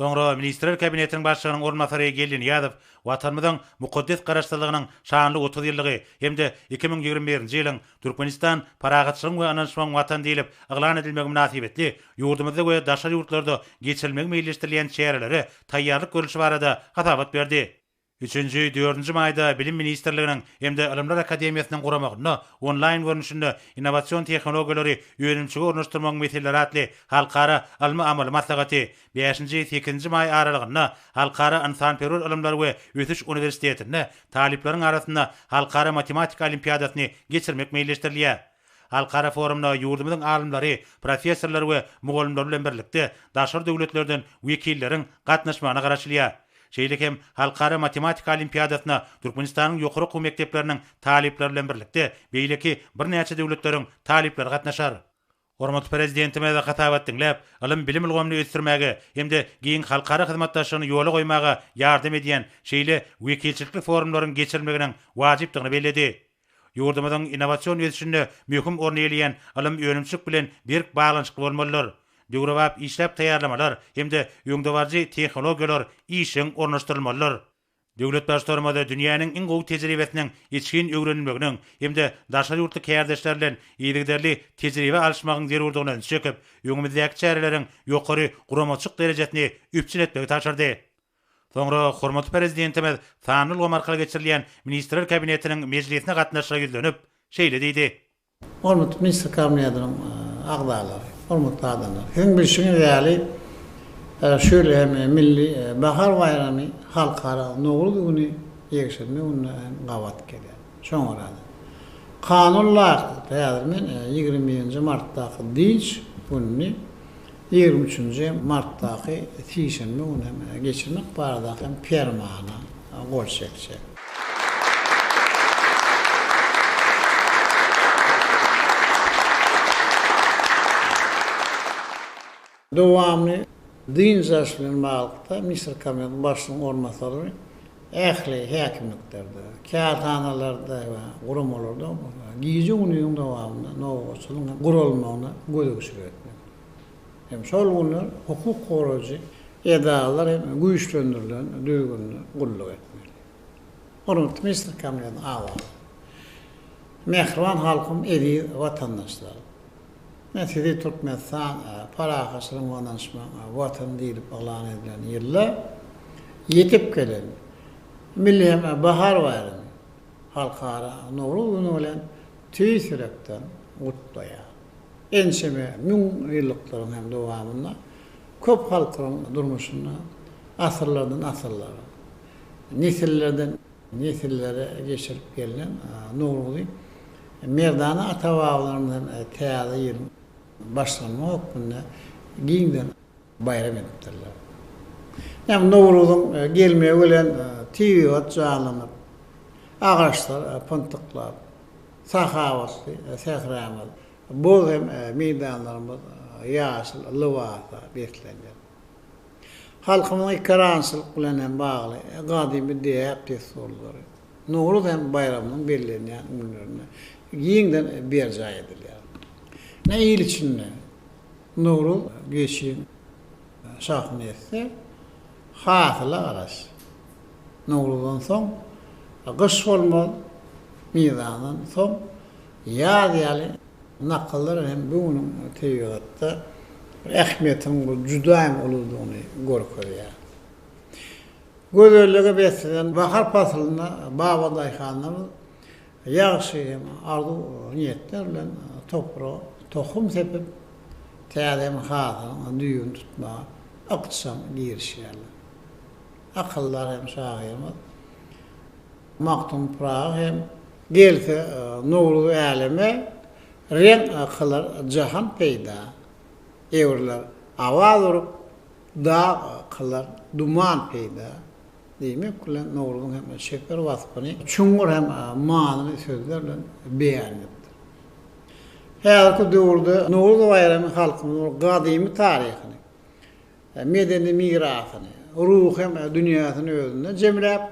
Soňra Ministrler Kabinetiniň Başlygynyň orunbasary Geldi Nyýazow Watanymyzyň mukaddes Garaşsyzlygynyň şanly otuz ýyllygy hem-de iki müň ýigrimi birinji ýylyň Türkmenistan parahatçylygyň we ynanyşmagyň Watany diýlip yglan edilmegi mynasybetli ýurdumyzda we daşary ýurtlarda geçirilmegi meýilleşdirilýän çärelere taýýarlyk görlüşi barada hasabat berdi. Üçünji, dördünji maýda Bilim ministrliginiň hem-de Ylymlar akademiýasynyň guramagynda Onlaýn görnüşinde Innowasion tehnologiýalary önümçige ornaşdyrmagyň meseleleri atly halkara ylmy-amaly maslahaty, bäşinji, sekizinji maý aralygynda Halkara ynsanperwer ylymlar we ösüş uniwersitetinde talyplaryň arasynda Halkara matematika olimpiadasyny geçirmek meýilleşdirilýär. Halkara forumyna ýurdumyzyň alymlary, professorlary we mugallymlary bilen birlikde daşary döwletlerden wekilleriň gatnaşmagyna garaşylýar. Şeýle hem Halkara matematika olimpiadasyna Türkmenistanyň ýokary okuw mekdepleriniň talyplary bilen birlikde beýleki birnäçe döwletleriň talyplary gatnaşar. Hormatly Prezidentimiz hasabat diňläp, ylym-bilim ulgamyny ösdürmäge hem-de giň halkara hyzmatdaşlygyny ýola goýmaga ýardam edýän şeýle wekilçilikli forumlaryň geçirilmeginiň wajypdygyny belledi. Ýurdumyzyň innowasion ösüşinde möhüm orny eýeleýän ylym önümçilik bilen berk baglanyşykly bolmalydyr. Döwrebap işläp taýýarlamalar hem-de öňdebaryjy tehnologiýalar işjeň ornaşdyrylmalydyr. Döwlet Baştutanymyz dünýäniň iň gowy tejribesiniň içgin öwrenilmeginiň hem-de daşary ýurtly kärdeşler bilen yzygiderli tejribe alyşmagyň zerurdygyna ünsi çekip, öňümizdäki çäreleriň ýokary guramaçylyk derejesini üpjün etmegi tabşyrdy. Soňra hormatly Prezidentimiz sanly ulgam arkaly geçirilýän Ministrler Kabinetiniň mejlisine gatnaşyjylara ýüzlenip, şeýle diýdi. Hormatly Ministrler Kabinetiniň agzalary, hormatly adamlar! Siziň bilşiňiz ýaly, şu ýyl hem Milli bahar baýramy Halkara Nowruz güni, ýekşenbe gününe hem gabat gelýär. Şoňa görä-de, kanun laýyklykda häzir men ýigrimi birinji martdaky dynç gününi ýigrimi üçünji martdaky sişenbe güni hem geçirmek baradaky hem permana gol çekjek. Dowamy dynç alyş bilen baglylykda, Misir Kabinetiniň Başlygynyň orunbasarlary ähli häkimliklerde, kärhanalarda we guramalarda gije-gündiziň dowamynda nobatçylygyň guralmagyna gözegçilik etmek hem şol günler hukuk goraýjy edaralar hem güýçlendirilen düzgünde gulluk etmeli. Hormatly Misir Kabinetiniň agzalary! Mähriban halkym, eziz watandaşlarym! Men sizi Türkmenistan parahatçylygyň we ynanyşmagyň Watany diýlip yglan edilen ýylda ýetip gelen Milli hem bahar baýramy, Halkara Nowruz güni bilen tüýs ýürekden gutlaýan. Ençeme müň ýyllykdyryň hem dowamynda köp halklaryň durmuşynda asyrlardan asyrlara, nesillerden Nesillere geçirip gelnen Nowruzy merdana ata-babalarymyzdan Täze ýylyň başlanma hökmünde giňden baýram edipdirler. Ýa Nowruzyň gelmegi bilen tebigat janlanyp, agaçlar pyntyklap, sahawatly sähramyz, bug hem meýdanlarymyz ýaşyl lybasa beslenýär. Halkymyzyň ekerançylyk bilen hem bagly gadymy däp-dessurlary Nowruz hem baýramynyň bellenýän günlerinde giňden berjaý edilýär. Ine, il içinde Nowruz geçiň şahyny etse, hasyla garaş. Nowruzdan soň gyş bolmaz, mizandan soň ýaz ýaly Nakallar hem bu günüň tebigatda bir ähmiýetiniň bir juda hem uludygyny görkezýär. Gözellige beslenen bahar paslynda baba daýhanlarymyz ýagşy hem arzuw niýetler bilen topraga tohum sepip, täze hem hasylyň düýbüni tutmaga ykjam girişýärler. Akyldar hem şahyrymyz Magtym Pyragy hem Gelse Nowruz äleme, Reň kylar jahan peýda. Ewrler awaz urup, Dag kylar duman peýda. Diýmek bilen, Nowruzyň hem çeper waspyny çuňňur hem manyly sözler bilen beýan edipdir. Häzirki döwürde Nowruz baýramy halkymyzyň gadymy taryhyny, medeni mirasyny, ruhy hem dünýäsini özünde jemläp,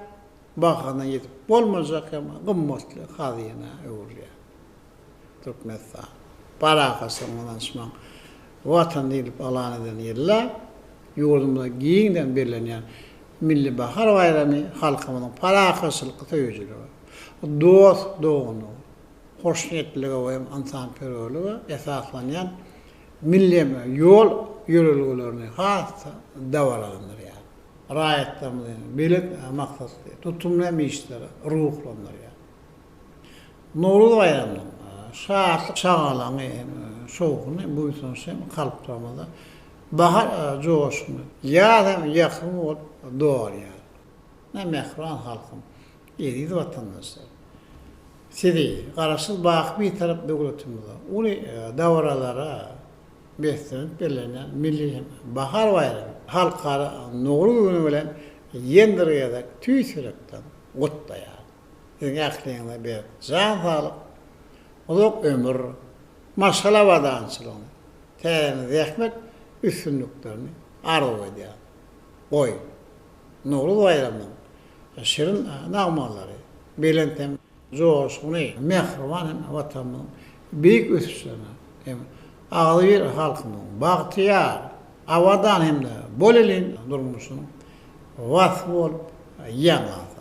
bahasyna ýetip bolmajak hem gymmatly hazyna öwrülýär. Türkmenistan parahatçylygyň, ynanyşmagyň Watany diýlip yglan eden ýylda ýurdumyzda giňden bellenýän Milli bahar baýramy halkymyzyň parahatçylyk söýüjilige, dost-doganlyga, hoşniýetlilige we ynsanperwerlige esaslanýan milleme ýol ýörelgelerini has-da dabaralandyrýar, raýatlarymyzy belent maksatly, tutumly hem işlere ruhlandyrýar. Nowruz baýramynyň şatlyk-şagalaňy hem şowhuny, buýsanç hem kalplarymyzda bahar joşuny, ýaz hem ýakym bolup dogalýar. Mähriban halkym! Eziz watandaşlar! Sizi Garaşsyz, baky Bitarap döwletimiziň uly dabaralara beslenip bellenýän milli bahar baýramy, Halkara Nowruz güni bilen ýene bir gezek tüýs ýürekden gutlaýaryn. Siziň ähliňize berk jan saglyk, uzak ömür, maşgala abadançylygyny, täze zähmet üstünliklerini arzuw edýärin. Goý, Nowruz baýramynyň Şirin nagmalary, belent hem joşgunly, mähriban hem Watanymyzyň beýik ösüşlerine hem agzybir halkymyzyň bagtyýar, abadan hem-de bolelin durmuşynyň waspy bolup ýaňlansyn!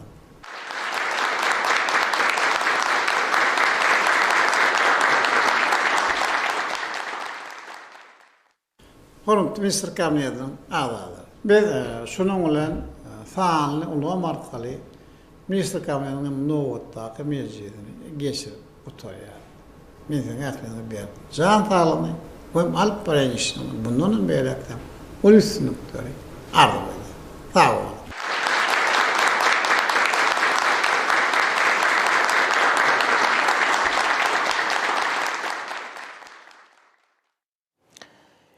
Hormatly Ministr Kabinetiniň agzalary! Biz şunuň bilen sanly ulgam arkaly Ministr Kabinetiniň nobatdaky mejlisini geçirip gutarýarys. Men siziň ähliňize berk jan saglygyny we alyp barýan işiňizde mundanam beýläk-de uly üstünlikleri arzuw edýän. Sag boluň!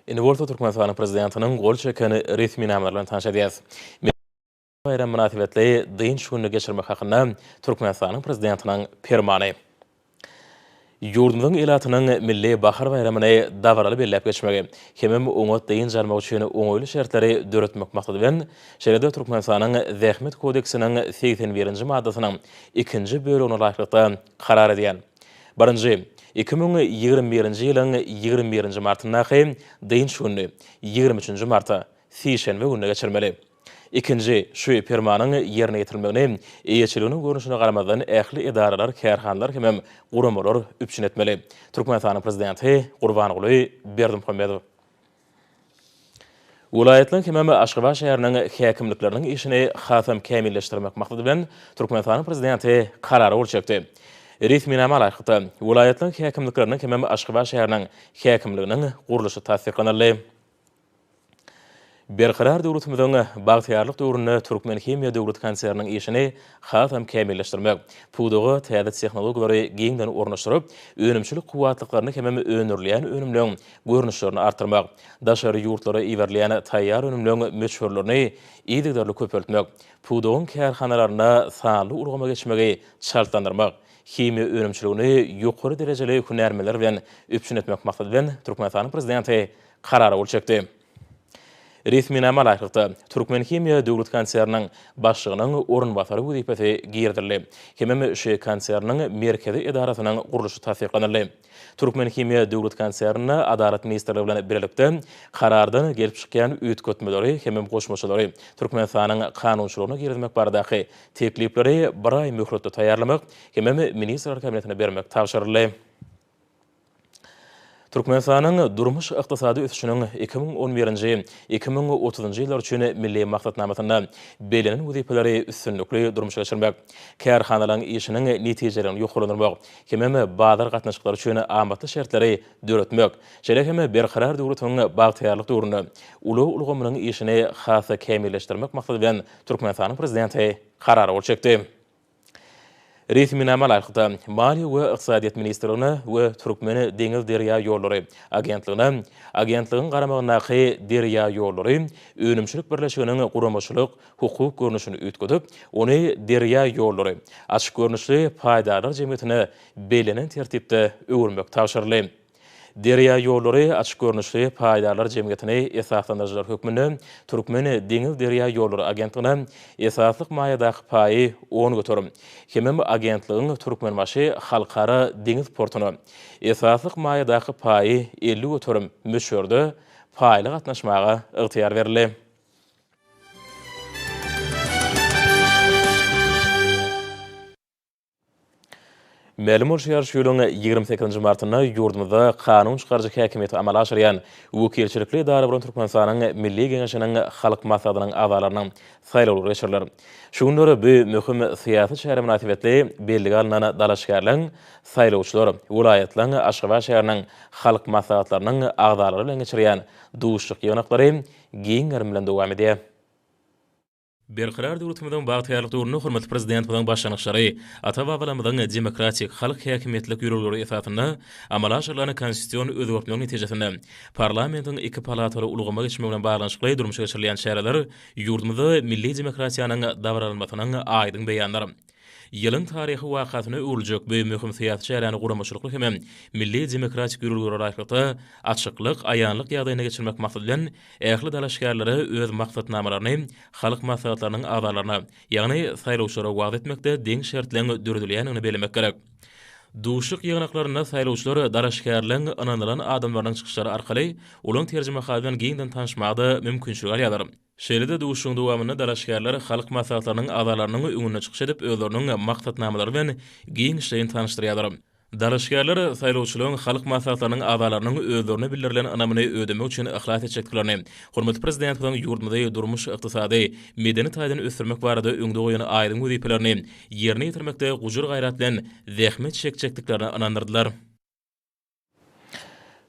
Indi bolsa Türkmenistanyň Prezidentiniň gol çeken resminama bilen tanyş edýäris. Milli baýram mynasybetli dynç gününi geçirmek hakynda Türkmenistanyň Prezidentiniň Permany. Ýurdumyzyň ilatynyň milli bahar baýramyny dabaraly belläp geçmegi, hemem oňat dynç almak üçin oňaýly şertleri döretmek maksady bilen, şeýle-de Türkmenistanyň Zähmet kodeksiniň segsen birinji maddasynyň ikinji bölegine laýyklykda, karar edýän. Birinji, iki müň ýigrimi birinji ýylyň ýigrimi birinji martyndaky dynç gününi ýigrimi üçünji marta, sişenbe gününe geçirmeli. Ikinji, şu Permanyň ýerine ýetirilmegini eýeçiliginiň görnüşine garamazdan ähli edaralar, kärhanalar hemem guramalar üpjün etmeli, Türkmenistanyň Prezidenti Gurbanguly Berdimuhamedow. Welaýatlaryň hemem Aşgabat şäheriniň häkimlikleriniň işini hasam kämilleşdirmek maksady bilen, Türkmenistanyň Prezidenti Karara gol çekdi. Resminama laýyklykda, welaýatlaryň häkimlikleriniň hemem Aşgabat şäheriniň häkimliginiň gurluşy tassyklanyldy. Berkarar döwletimiziň bagtyýarlyk döwründe Türkmenhimiýa döwlet konserniniň işini hasam kämilleşdirmek, pudaga täze tehnologiýalary giňden ornaşdyryp, önümçilik kuwwatlyklaryny hemem öndürilýän önümleň görnüşlerini artdyrmak, daşary ýurtlara iberilýän taýýar önümleň möçberlerini yzygiderli köpeltmek, pudagyň kärhanalarynda sanly ulgama geçmegi çaltlandyrmak, himiýa önümçiligini ýokary derejeli hünärmenler bilen üpjün etmek maksady bilen Türkmenistanyň Prezidenti Karara gol çekdi. Resminama laýyklykda, Türkmenhimiýa döwlet konserniniň başlygynyň orunbasary wezipesi girizildi hemem şeý konserniň merkezi edarasynyň gurluşy tassyklanyldy. Türkmenhimiýa döwlet konsernine Adalat ministrligi bilen bilelikde Karardan gelip çykýan üýtgetmeleri hemem goşmaçalary Türkmenistanyň kanunçylygyna girizmek baradaky teklipleri bir aý möhletde taýýarlamak hemem Ministrler Kabinetine bermek tabşyryldy. Türkmenistanyň durmuş-ykdysady ösüşiniň iki müň on birinji, iki müň otuzynjy ýyllar üçin Milli maksatnamasynda bellenen wezipeleri üstünlikli durmuşa geçirmek, kärhanalaryň işiniň netijeligini ýokarlandyrmak hemem bazar gatnaşyklary üçin amatly şertleri döretmek, şeýle hem Berkarar döwletiň bagtyýarlyk döwründe ulag ulgamynyň işini has-da kämilleşdirmek maksady bilen Türkmenistanyň Prezidenti Karar gol çekdi. Resminama laýykda, Maliýe we ykdysadyýet ministrligine we Türkmen deňiz-derýaýollary agentligine Agentligiň garamagyndaky Derýaýollary önümçilik birleşiginiň guramaçylyk, hukuk görnüşini üýtgedip, ony Derýaýollary açyk görnüşli paýdarlar jemgyýetine bellenen tertipde öwürmek tabşyryldy. Derýaýollary açyk görnüşli paýdarlar jemgyýetini esaslandyryjylar hökmünde Türkmen deňiz-derýaýollary agentligine esaslyk maýadaky paýy on göterim, hemem agentligiň Türkmenbaşy Halkara deňiz portuna esaslyk maýadaky paýy elli göterim möçberde paýly gatnaşmaga ygtyýar berildi. Mälim bolşy ýaly, şu ýylyň ýigrimi sekizinji martynda ýurdumyzda kanun çykaryjy häkimiýeti amala aşyrýan wekilçilikli edara bolan Türkmenistanyň Milli Geňeşiniň Halk Maslahatynyň agzalarynyň saýlawlary geçiriler. Şu günler bu möhüm syýasy çäre mynasybetli bellige alnan dalaşgärler, saýlawçylar welaýatlaryň, Aşgabat şäheriniň Halk Maslahatlarynyň agzalary bilen geçirýän duşuşyk-ýygnaklary giň gerim bilen dowam edýär. Berkarar döwletimiziň bagtyýarlyk döwründe hormatly Prezidentimiziň başlangyçlary, ata-babalarymyzyň demokratik, halk häkimiýetlik ýörelgeleri esasynda amala aşyrylan konstitusion özgertmeler netijesinde parlamentiň iki palataly ulgama geçmegi bilen baglanyşykly durmuşa geçirilýän çäreler ýurdumyzda milli demokratiýanyň dabaralanmasynyň aýdyň beýanydyr. Ýylyň taryhy wakasyna öwrüljek bu möhüm syýasy çäräni guramaçylykly hem-ä milli demokratik ýörelgelere laýyklykda, açyklyk, aýanlyk ýagdaýynda geçirmek maksady bilen, ähli dalaşgärlere öz maksatnamalaryny Halk Maslahatlarynyň agzalaryna, ýagny saýlawçylara wagyz etmekde deň şertleň döredilýändigini bellemek gerek. Duşuşyk ýygnaklarynda saýlawçylar dalaşgärleň ynanylan adamlarynyň çykyşlary arkaly olaň terjimehaly bilen giňden tanyşmaga-da mümkinçilik alýarlar. Şeýle-de duşuşygyň dowamynda dalaşgärler halk maslahatlarynyň agzalarynyň öňünde çykyş edip, özleriniň maksatnamalary bilen giňişleýin tanyşdyrýarlar. Dalaşgärler saýlawçylaryň halk maslahatlarynyň agzalarynyň özlerine bildirilen ynamyny ödemek üçin yhlas etjekdiklerini, hormatly Prezidentimiziň ýurdumyzy durmuş-ykdysady, medeni taýdan ösdürmek barada öňde goýan aýdyň wezipelerini ýerine ýetirmekde gujur-gaýrat bilen zähmet çekjekdiklerine ynandyrdylar.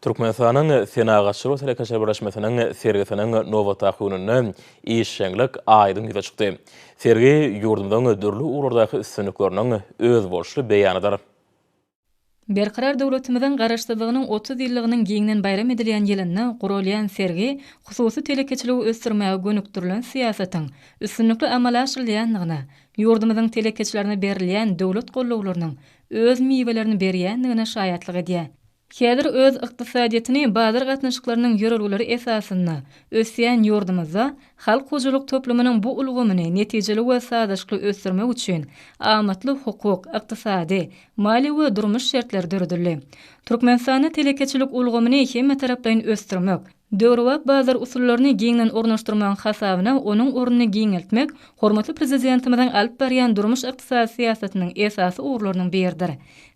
Türkmenistanyň Senagatçylar we telekeçiler birleşmesiniň sergisiniň nobatdaky gününde işjeňlik aýdyň ýüze çykdy. Sergi ýurdumyzyň dürli ugurlardaky üstünlikleriniň özboluşly beýanydyr. Berkarar döwletimiziň Garaşsyzlygynyň otuz ýyllygynyň giňden baýram edilýän ýylynda guralýan sergi hususy telekeçiligi ösdürmäge gönükdirilen syýasatyň üstünlikli amala aşyrylýandygyna, ýurdumyzyň telekeçilerine berilýän döwlet gollawlarynyň öz miwelerini berýändigine şaýatlyk edýär. Häzir öz ykdysadyýetini bazar gatnaşyklarynyň ýörelgeleri esasynda ösýän ýurdumyzda halk hojalyk toplumynyň bu ulgamyny netijeli we sazlaşykly ösdürmek üçin amatly hukuk, ykdysady, maliýe we durmuş şertleri döredildi. Türkmenistanda telekeçilik ulgamyny hemmetaraplaýyn ösdürmek, Döwrebap bazar usullaryny giňden ornaşdyrmagyň hasabyna onuň ornuny giňeltmek hormatly Prezidentimiziň alyp barýan durmuş-ykdysady syýasatynyň esasy ugurlarynyň biridir.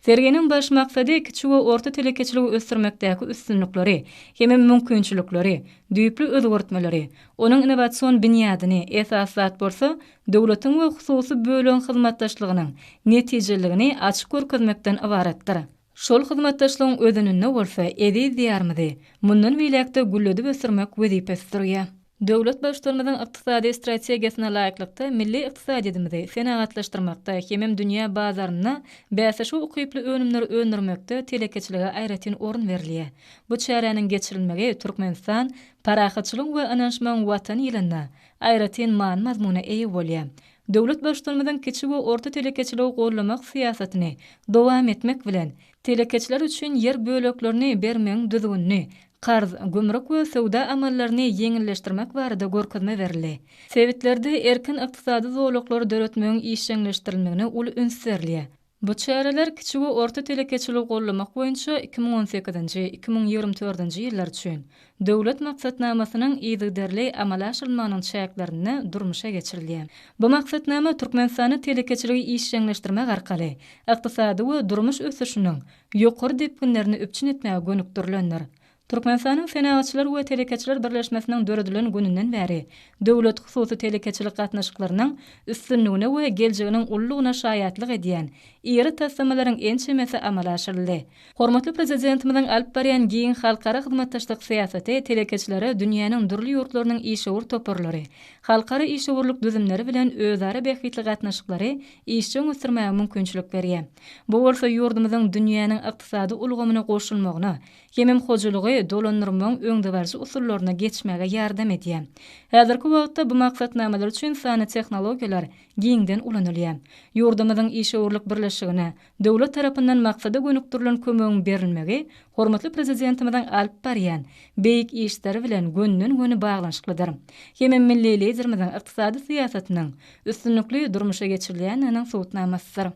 Serginiň baş maksady kiçi we orta telekeçiligi ösdürmekdäki üstünlikleri hem-ä mümkinçilikleri, düýpli özgertmeleri, onuň innowasion binýadyny, esasy zat bolsa, döwletiň we hususy bölegiň hyzmatdaşlygynyň netijeliligini açyp görkezmekden ybaratdyr. Şol hyzmatdaşlygyň özeninde bolsa eziz Diýarymyzy mundan beýläk-de gülledip ösdürmek wezipesi durýar. Döwlet Baştutanymyzyň ykdysady strategiýasyna laýyklykda, milli ykdysadyýetimizi senagatlaşdyrmakda hemem dünýä bazarynda bäsleşige ukyply önümleri öndürmekde telekeçilige aýratyn orun berilýär. Bu çäräniň geçirilmegi Türkmenistan, parahatçylygyň we ynanyşmagyň Watany ýylynda aýratyn many-mazmuna eýe bolýar. Döwlet Baştutanymyzyň kiçi we orta telekeçiligi goldamak syýasatyny dowam etmek bilen, telekeçiler üçin ýer böleklerini bermegiň düzgünini, karz, gümrük we söwda amallaryny ýeňilleşdirmek barada görkezme berildi. Sebitlerde erkin ykdysady zolaklary döretmegiň işjeňleşdirilmegine uly üns berilýär. Bu çäreler kiçi we orta telekeçiligi goldamak boýunça iki müň on sekizinji, iki müň ýigrimi dördünji ýyllar üçin Döwlet maksatnamasynyň yzygiderli amala aşyrylmagynyň çäklerinde durmuşa geçirilýär. Bu maksatnama Türkmenistanda telekeçiligi işjeňleşdirmek arkaly ykdysady we durmuş ösüşiniň ýokary depginlerini üpjün etmäge gönükdirilendir. Türkmenistanyň Senagatçylar we telekeçiler birleşmesiniň döredilen gününden bäri döwlet-hususy telekeçilik gatnaşyklarynyň üstünligine we geljeginiň ululygyna şaýatlyk edýän iri taslamalaryň ençemesi amala aşyryldy. Hormatly Prezidentimiziň alyp barýan giň halkara hyzmatdaşlyk syýasaty telekeçilere dünýäniň dürli ýurtlarynyň işewür toparlary, halkara işewürlik düzümleri bilen özara bähbitli gatnaşyklary işjeň ösdürmäge mümkinçilik berýär. Bu bolsa ýurdumyzyň dünýäniň ykdysady ulgamyna goşulmagyna, Hemem hojalygy dolandyrmagyň öňdebaryjy usullaryna geçmäge ýardam edýär. Häzirki wagtda bu maksatnamalar üçin sanly tehnologiýalar giňden ulanylýar. Ýurdumyzyň işewürlik birleşigine döwlet tarapyndan maksada gönükdirilen kömegiň berilmegi hormatly Prezidentimiziň alyp barýan beýik işleri bilen gönden-göni baglanyşyklydyr. Hemem milli Liderimiziň ykdysady syýasatynyň üstünlikli durmuşa geçirilýändiginiň subutnamasydyr.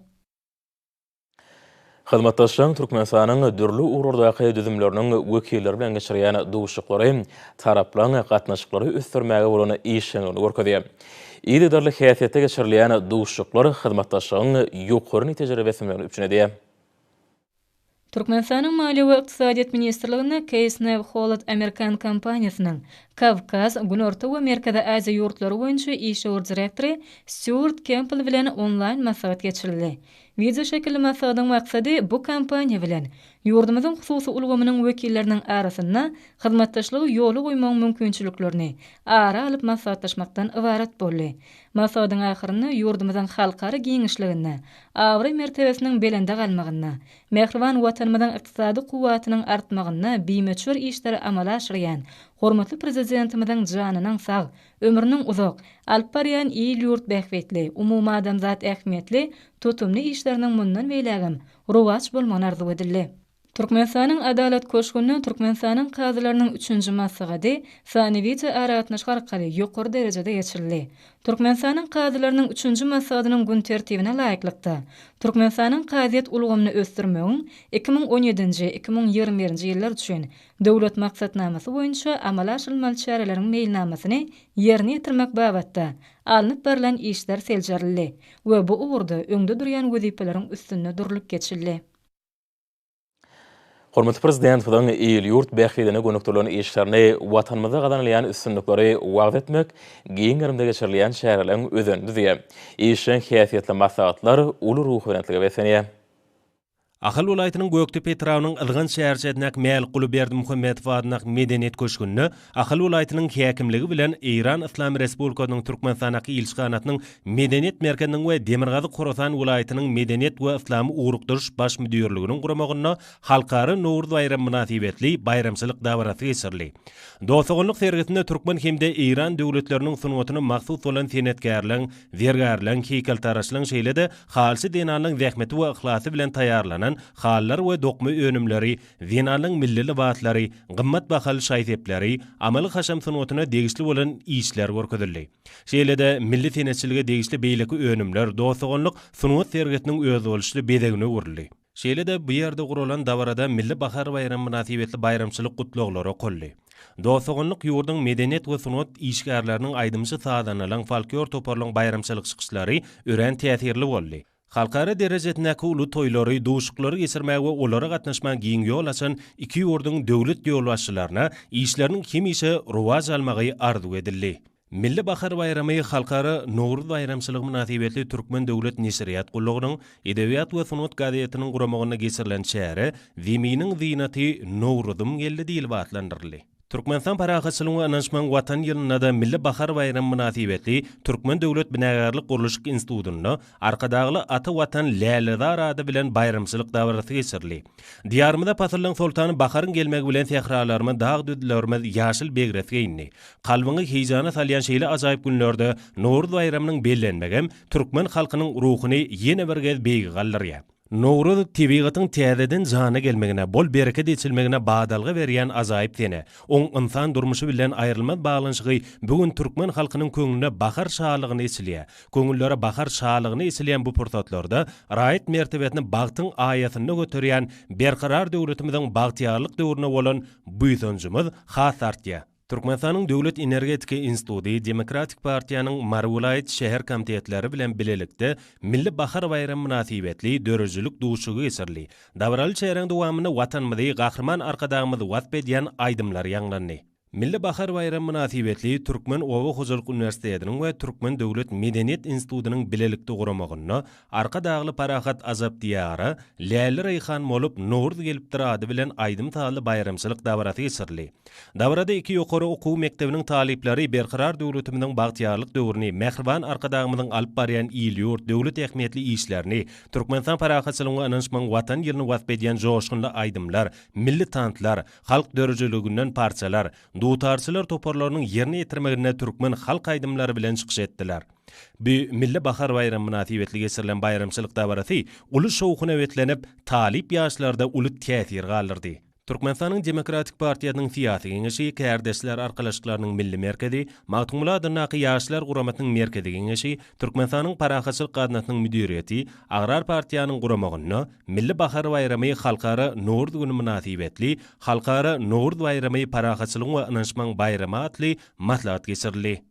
Hyzmatdaşlygyň Türkmenistanyň dürli ugurlardaky düzümleriniň wekilleri bilen geçirýän duşuşyklary taraplaryň gatnaşyklary ösdürmäge bolan işjeňligini görkezýär. Yzygiderli häsiýetde geçirilýän duşuşyklar hyzmatdaşlygyň ýokary netijeleri besinmegini üpjün edýär. Türkmenistanyň Maliýe we ykdysadyýet ministrliginde Keýsnew Hollad amerikan kompaniýasynyň Kawkaz, Günorta we Merkezi Aziýa ýurtlary boýunça işewür direktory Stýuart Kempbell bilen onlaýn maslahat geçirildi. Wideoşekilli maslahatyň maksady bu kompaniýa bilen ýurdumyzyň hususy ulgamynyň wekilleriniň arasynda hyzmatdaşlygy ýola goýmagyň mümkinçiliklerini ara alyp maslahatlaşmakdan ybarat boldy. Maslahatyň ahyrynda ýurdumyzyň halkara giňişliginde abraý-mertebesiniň belende galmagynda, mähriban Watanymyzyň ykdysady kuwwatynyň artmagynda bimöçber işleri amala aşyrýan hormatly Prezidentimiziň janynyň sag, Ömrüniň uzak, alyp barýan il-ýurt bähbitli, umumadamzat ähmiýetli tutumly işleriniň mundan beýlägem rowaç bolmagyny arzuw edildi. Türkmenistanyň Adalat köşgünde Türkmenistanyň kazylarynyň üçünji maslahaty sany wideoaragatnaşyk arkaly ýokary derejede geçirildi. Türkmenistanyň kazylarynyň üçünji maslahatynyň gün tertibine laýyklykda, Türkmenistanyň kazyýet ulgamyny ösdürmegiň iki müň on ýedinji, iki müň ýigrimi birinji ýyllar üçin Döwlet maksatnamasy boýunça amala aşyrylmaly çäreleriň meýilnamasyny ýerine ýetirmek babatda alnyp barlan işler seljerildi we bu ugurda öňde durýan wezipeleriň üstünde durlup geçildi. Hormatly Prezidentimiziň il-ýurt bähbidine gönükdirilen işlerini, Watanymyzda gazanylýan üstünlikleri wagyz etmek, giň gerimde geçirilýän çäreleriň özenini düzýär. Işjeň häsiýetli maslahatlar uly ruhubelentlige beslenýär. Ahal welaýatynyň Gökdepe etrabynyň Ylgan şäherçesindäki Mälikguly Berdimuhamedow adyndaky Medeniýet köşgünde Ahal welaýatynyň häkimligi bilen Eýran Yslam Respublikasynyň Türkmenistandaky ilçihanasynyň Medeniýet merkeziniň we Demirgazyk Horasan welaýatynyň Medeniýet we yslamy ugrukdyryş baş müdirliginiň guramagynda Halkara Nowruz baýramy mynasybetli baýramçylyk dabarasy geçirildi. Dost-doganlyk sergisinde türkmen hem-de eýran döwletleriniň sungatyna mahsus bolan senetkärleň Zergärleň, heýkeltaraşlaň şeýle-de halçy zenanlaň zähmeti we yhlasy bilen taýýarlanan halylar we dokma önümleri, zenanlaň milli lybaslary, gymmat bahaly şaý-sepleri, amaly-haşam sungatyna degişli bolan işler görkezildi. Şeýle-de milli senetçilige degişli beýleki önümler, dost-doganlyk sungat sergisiniň özboluşly bezegine öwrüldi. Şeýle-de, bu ýerde guralan dabarada Milli bahar baýramy mynasybetli baýramçylyk gutlaglary okaldy. Dost-doganlyk ýurduň medeniýet we sungat işgärleriniň aýdymçy-sazandalaryň folklor toparlaryň baýramçylyk çykyşlary örän täsirli boldy. Halkara derejesindäki uly toýlary, duşuklary geçirmäge we olara gatnaşmaga giň ýol açan iki ýurduň döwlet ýolbaşçylaryna işleriniň hemişe rowaç almagy arzuw edildi. Milli bahar baýramy Halkara Nowruz baýramçylygy mynasybetli Türkmen döwlet neşirýat gullugynyň Edebiýat we sungat gazetiniň guramagynda geçirilen çäre Zeminiň zynaty, Nowruzym geldi diýlip atlandyryldy. Türkmenistan parahatçylygyň we ynanşmagyň Watan ýylynda-da Milli bahar baýramy mynasybetli Türkmen döwlet binagärlik-gurluşyk institutynda Arkadagly ata Watan lälezar ady bilen baýramçylyk dabarasy geçirildi. Diýarymyza pasyllaň soltany baharyň gelmegi bilen sähralarymyz, dag-düzlerimiz ýaşyl begres geýindi. Kalbyňy heýjana salýan şeýle ajaýyp günlerde Nowruz baýramynyň bellenmegem türkmen halkynyň ruhuny ýene bir gez beýige galdyrýar. Nowruz, tebigatyň täzeden jana gelmegine, bol-bereket eçilmegine badalga berýän ajaýyp sene. Oň ynsan durmuşy bilen aýrylmaz baglanyşygy bu gün türkmen halkynyň köňlüne bahar şalygyny eçilýär. Köňüllere bahar şalygyny eçilýän bu pursatlarda raýat mertebesini bagtyň aýasynda göterýän Berkarar döwletimiziň bagtyýarlyk döwrüne bolan buýsanjymyz has artýar. Türkmenistanyň Döwlet energetika instituty Demokratik partiýanyň Mary welaýat şäher komitetleri bilen bilelikde Milli bahar baýramy mynasybetli döredijilik duşuşygy geçirildi. Dabaraly çäräň dowamynda Watanymyzy Gahryman Arkadagymyz wasp edýän aýdymlar ýaňlandy. Milli bahar baýramy mynasybetli Türkmen oba hojalyk uniwersitetiniň we Türkmen döwlet medeniýet institutynyň bilelikde guramagynda Arkadagly parahat Ajap Diýara, Läle Reýhan bolup, Nowruz gelipdir ady bilen aýdym-sazly baýramçylyk dabarasy geçirildi. Dabarada iki ýokary okuw mekdebiniň talyplary Berkarar döwletimiziň bagtyýarlyk döwrüni, mähriban Arkadagymyzyň alyp barýan il-ýurt, döwlet ähmiýetli işlerini, Türkmenistan parahatçylygyň we ynanyşmagyň Watan ýylyny wasp edýän joşgunly aýdymlar, milli tanslar, Halk döredijiliginden parçalar, dutarçylar toparlarynyň ýerine ýetirmeginde türkmen halk aýdymlary bilen çykyş etdiler. Bu Milli bahar baýramy mynasybetli geçirilen baýramçylyk dabarasy uly şowhuna beslenip, talyp ýaşlarda uly täsir galdyrdy. Türkmenistanyň Demokratik partiýasynyň Syýasy Geňeşi, Kärdeşler arkalaşyklarynyň Milli merkezi, Magtymguly adyndaky Ýaşlar guramasynyň Merkezi Geňeşi, Türkmenistanyň Parahatçylyk gaznasynyň müdiriýeti, Agrar partiýanyň guramagynda Milli bahar baýramy Halkara Nowruz güni mynasybetli Halkara Nowruz baýramy parahatçylygyň we ynanyşmagyň baýramy atly maslahat geçirildi.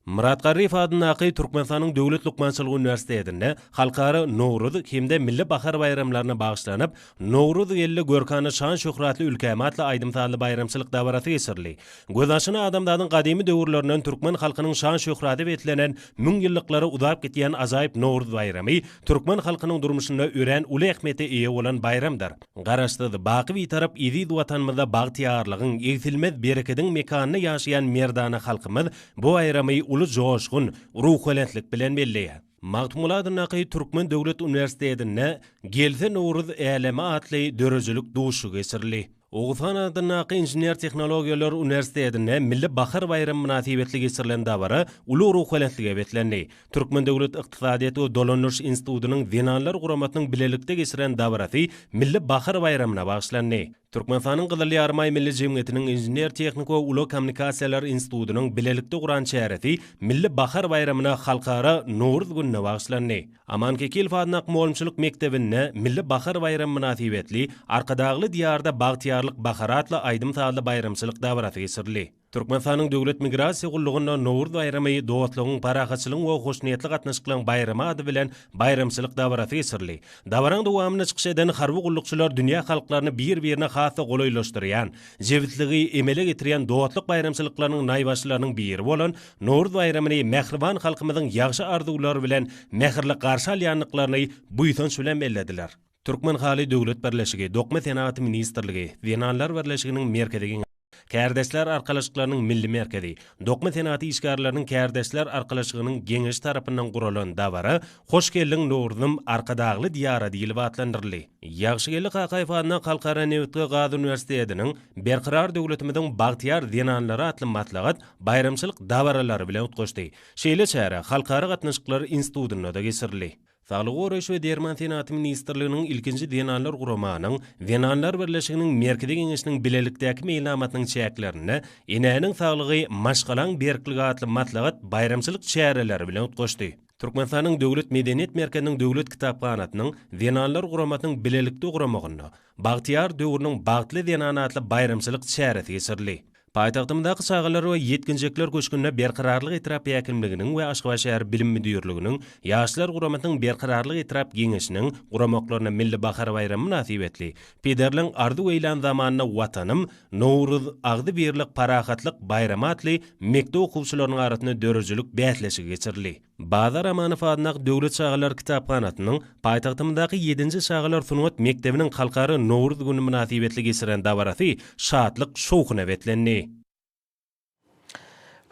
Myrat Garryýew adyndaky Türkmenistanyň Döwlet lukmançylyk uniwersitetinde Halkara Nowruz hem-de Milli bahar baýramlaryna bagyşlanyp, Nowruz geldi, görkana şan-şöhratly ülkäm atly aýdym-sazly baýramçylyk dabarasy geçirildi. Göz aşyna adamzadyň gadymy döwürlerinden türkmen halkynyň şan-şöhraty beslenen, müň ýyllyklara uzap gidýän ajaýyp Nowruz baýramy türkmen halkynyň durmuşynda örän uly ähmiýete eýe bolan baýramdyr. Garaşsyz, baky Bitarap eziz Watanymyzda bagtyýarlygyň, egsilmez berekediň mekanynda ýaşaýan merdana halkymyz bu baýramy uly joşgun, ruhubelentlik bilen belleýär. Magtymgulat Naky Türkmen döwlet uniwersitetinde Gelse Nowruz äleme atly döredijilik duşuşygy geçirildi. Oguzhan adyndaky Inžener-tehnologiýalar uniwersitetinde Milli bahar baýramy mynasybetli geçirilen dabara uly ruhubelentlige beslendi. Türkmen döwlet ykdysadyýet we dolandyryş institutynyň Zenanlar guramasynyň bilelikde geçiren dabarasy Milli bahar baýramyna bagyşlandy. Türkmenistanyň Gyzyl Ýarymaý Milli jemgyýetiniň Inžener-tehniko ulag kommunikasiýalar institutynyň bilelikde guran çäresi Milli bahar baýramyna Halkara Nowruz gününe bagyşlandy. Aman Kekilow adynda Akmolumçylyk mekdebinde Milli bahar baýramy mynasybetli Arkadagly diýarda bagtyýarlyk bahar atly aýdym-sazly baýramçylyk dabarasy geçirildi. Türkmenistanyň Döwlet migrasiýa gullugynda Nowruz baýramy dostlugyň, parahatçylygyň we hoşniýetli gatnaşyklaryň baýramy ady bilen baýramçylyk dabarasy geçirildi. Dabaraň dowamynda çykyş eden harby gullukçylar dünýä halklaryny bir-birine has-da golaýlaşdyrýan, jebisligi emele getirýän dostluk baýramçylyklarynyň naýbaşylarynyň biri bolan Nowruz baýramyny mähriban halkymyzyň ýagşy arzuwlary bilen mähirli garşy alýandyklaryny buýsanç bilen bellediler. Türkmenhaly döwlet birleşigi, Dokma senagaty ministrligi, Zenanlar birleşiginiň Merkezi geňeşi, Kärdeşler arkalaşyklarynyň Milli merkezi, Dokma senagaty işgärleriniň kärdeşler arkalaşygynyň Geňeşi tarapyndan guralan dabara Hoş geldiň, Nowruzym, Arkadagly Diýara diýlip atlandyryldy. Ýagşygeldi Kakaýew adyndaky Halkara nebit we gaz uniwersitetiniň Berkarar döwletimiziň bagtyýar zenanlary atly maslahat baýramçylyk dabaralary bilen utgaşdy. Şeýle çäre Halkara gatnaşyklary institutynda-da geçirildi. Saglygy goraýyş we derman senaty ministrliginiň ilkinji zenanlar guramanyň Zenanlar birleşiginiň Merkezi geňeşiniň bilelikdäki meýilnamasynyň çäklerinde Enäniň saglygy, maşgalaň berkligi atly maslahat baýramçylyk çäreleri bilen utgaşdy. Türkmenistanyň Döwlet medeniýet merkeziniň Döwlet kitaphanasynyň Zenanlar guramasynyň bilelikde guramagynda Bagtyýar döwrüniň bagtly zenany atly baýramçylyk çäresi geçirildi. Paýtagtymyzdaky Çagalar we ýetginjekler köşgünde Berkararlyk etrap häkimliginiň we Aşgabat şäher bilim müdirliginiň, Ýaşlar guramasynyň Berkararlyk etrap geňeşiniň guramaklarynda Milli bahar baýramy mynasybetli Pederleň arzuw eýlan zamanda Watanym, Nowruz, agzybirlik, parahatlyk, baýramy atly mekdep okuwçylarynyň arasynda döredijilik bäsleşigi geçirildi. Bazar Amanow adyndaky döwlet çagalar kitaphanasynyň paýtagtymyzdaky ýedinji çagalar sungat mekdebiniň Halkara Nowruz güni mynasybetli geçiren dabarasy şatlyk-şowhuna beslendi.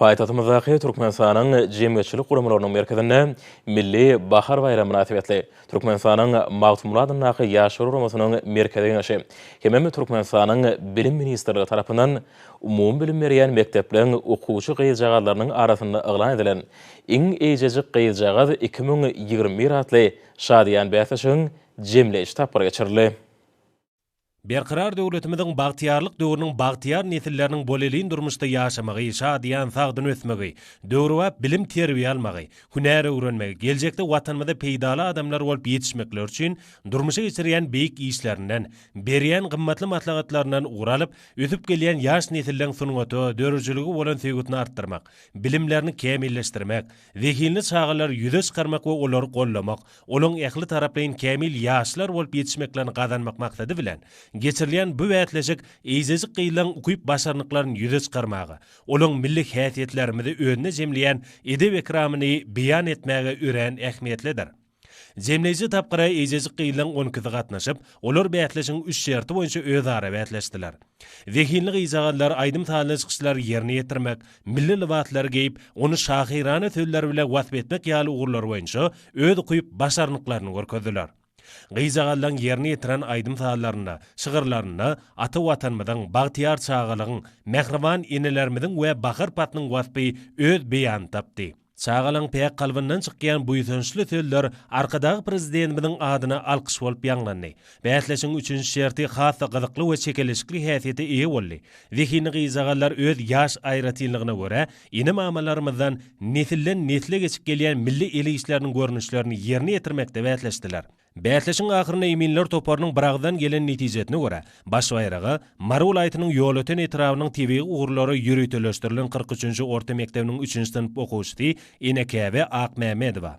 Paýtagtymyzdaky Türkmenistanyň jemgyýetçilik guramalarynyň merkezinde Milli bahar baýramy mynasybetli, Türkmenistanyň Magtymguly adyndaky Ýaşlar guramasynyň Merkezi Geňeşi hemem Türkmenistanyň Bilim ministrligi tarapyndan umumybilim berýän mekdepleriň okuwçy gyzjagazlarynyň arasynda yglan edilen Iň eýjejik gyzjagaz iki müň ýigrimi bir atly şadyýan bäsleşigiň jemleýji tapgyry geçirildi. Berkarar döwletimiziň bagtyýarlyk döwrüniň bagtyýar nesilleriniň bolelin durmuşda ýaşamagy, şadyýan, sagdyn ösmegi, döwrebap bilim-terbiýe almagy, hünär öwrenmegi, geljekde Watanymyza peýdaly adamlar bolup ýetişmekleri üçin durmuşa geçirýän beýik işlerinden, berýän gymmatly maslahatlaryndan ugur alyp, ösüp gelýän ýaş nesilleň sungata, döredijilige bolan söýgüsini artdyrmak, bilimlerini kämilleşdirmek, Zehinli çagalary ýüze çykarmak we olary goldamak, olaryň ähli taraplaýyn kämil ýaşlar bolup ýetişmeklerini gazanmak maksady bilen, geçirilýän bu bäsleşik eýjejik gyzlaryň ukyp-başarnyklaryny ýüze çykarmaga, olaryň milli häsiýetlerimizi özünde jemleýän edep-ekramyny beýan etmäge örän ähmiýetlidir. Jemleýji tapgyra eýjejik gyzlaň on ikisi gatnaşyp, olar bäsleşigiň üç şerti boýunça özara bäsleşdiler. Zehinli gyzjagazlar aýdym-sazly çykyşlary ýerine ýetirmek, milli lybaslary geýip, ony şahyrana sözler bile wasp etmek ýaly ugurlar boýunça öz ukyp, başarnyklaryny görkezdiler. Gyzjagazlaň ýerine ýetiren aýdym-sazlarynda, şygyrlarynda ata Watanymyzyň, bagtyýar çagalygyň, mähriban enelerimiziň we bahar paslyň waspy öz beýanyny tapdy. Çagalaň päk kalbyndan çykýan buýsançly sözler Arkadag Prezidentimiziň adyna alkyş bolup ýaňlandy. Bäsleşigiň üçünji şerti has-da gyzykly we çekeleşikli häsiýete eýe boldy. Zehinli gyzjagazlar öz ýaş aýratynlygyna görä, ene-mamalarymyzdan nesilden-nesle geçip gelýän milli el işleriniň görnüşlerini ýerine ýetirmekde bäsleşdiler. Bäsleşigiň ahyrynda eminler toparynyň biragyzdan gelen netijesine görä, baş baýraga Mary welaýatynyň Ýolöten etrabynyň tebigy ugurlara ýöriteleşdirilen kyrk üçünji orta mekdebiniň üçünji synp okuwçysy Enekäbe Akmämmedowa,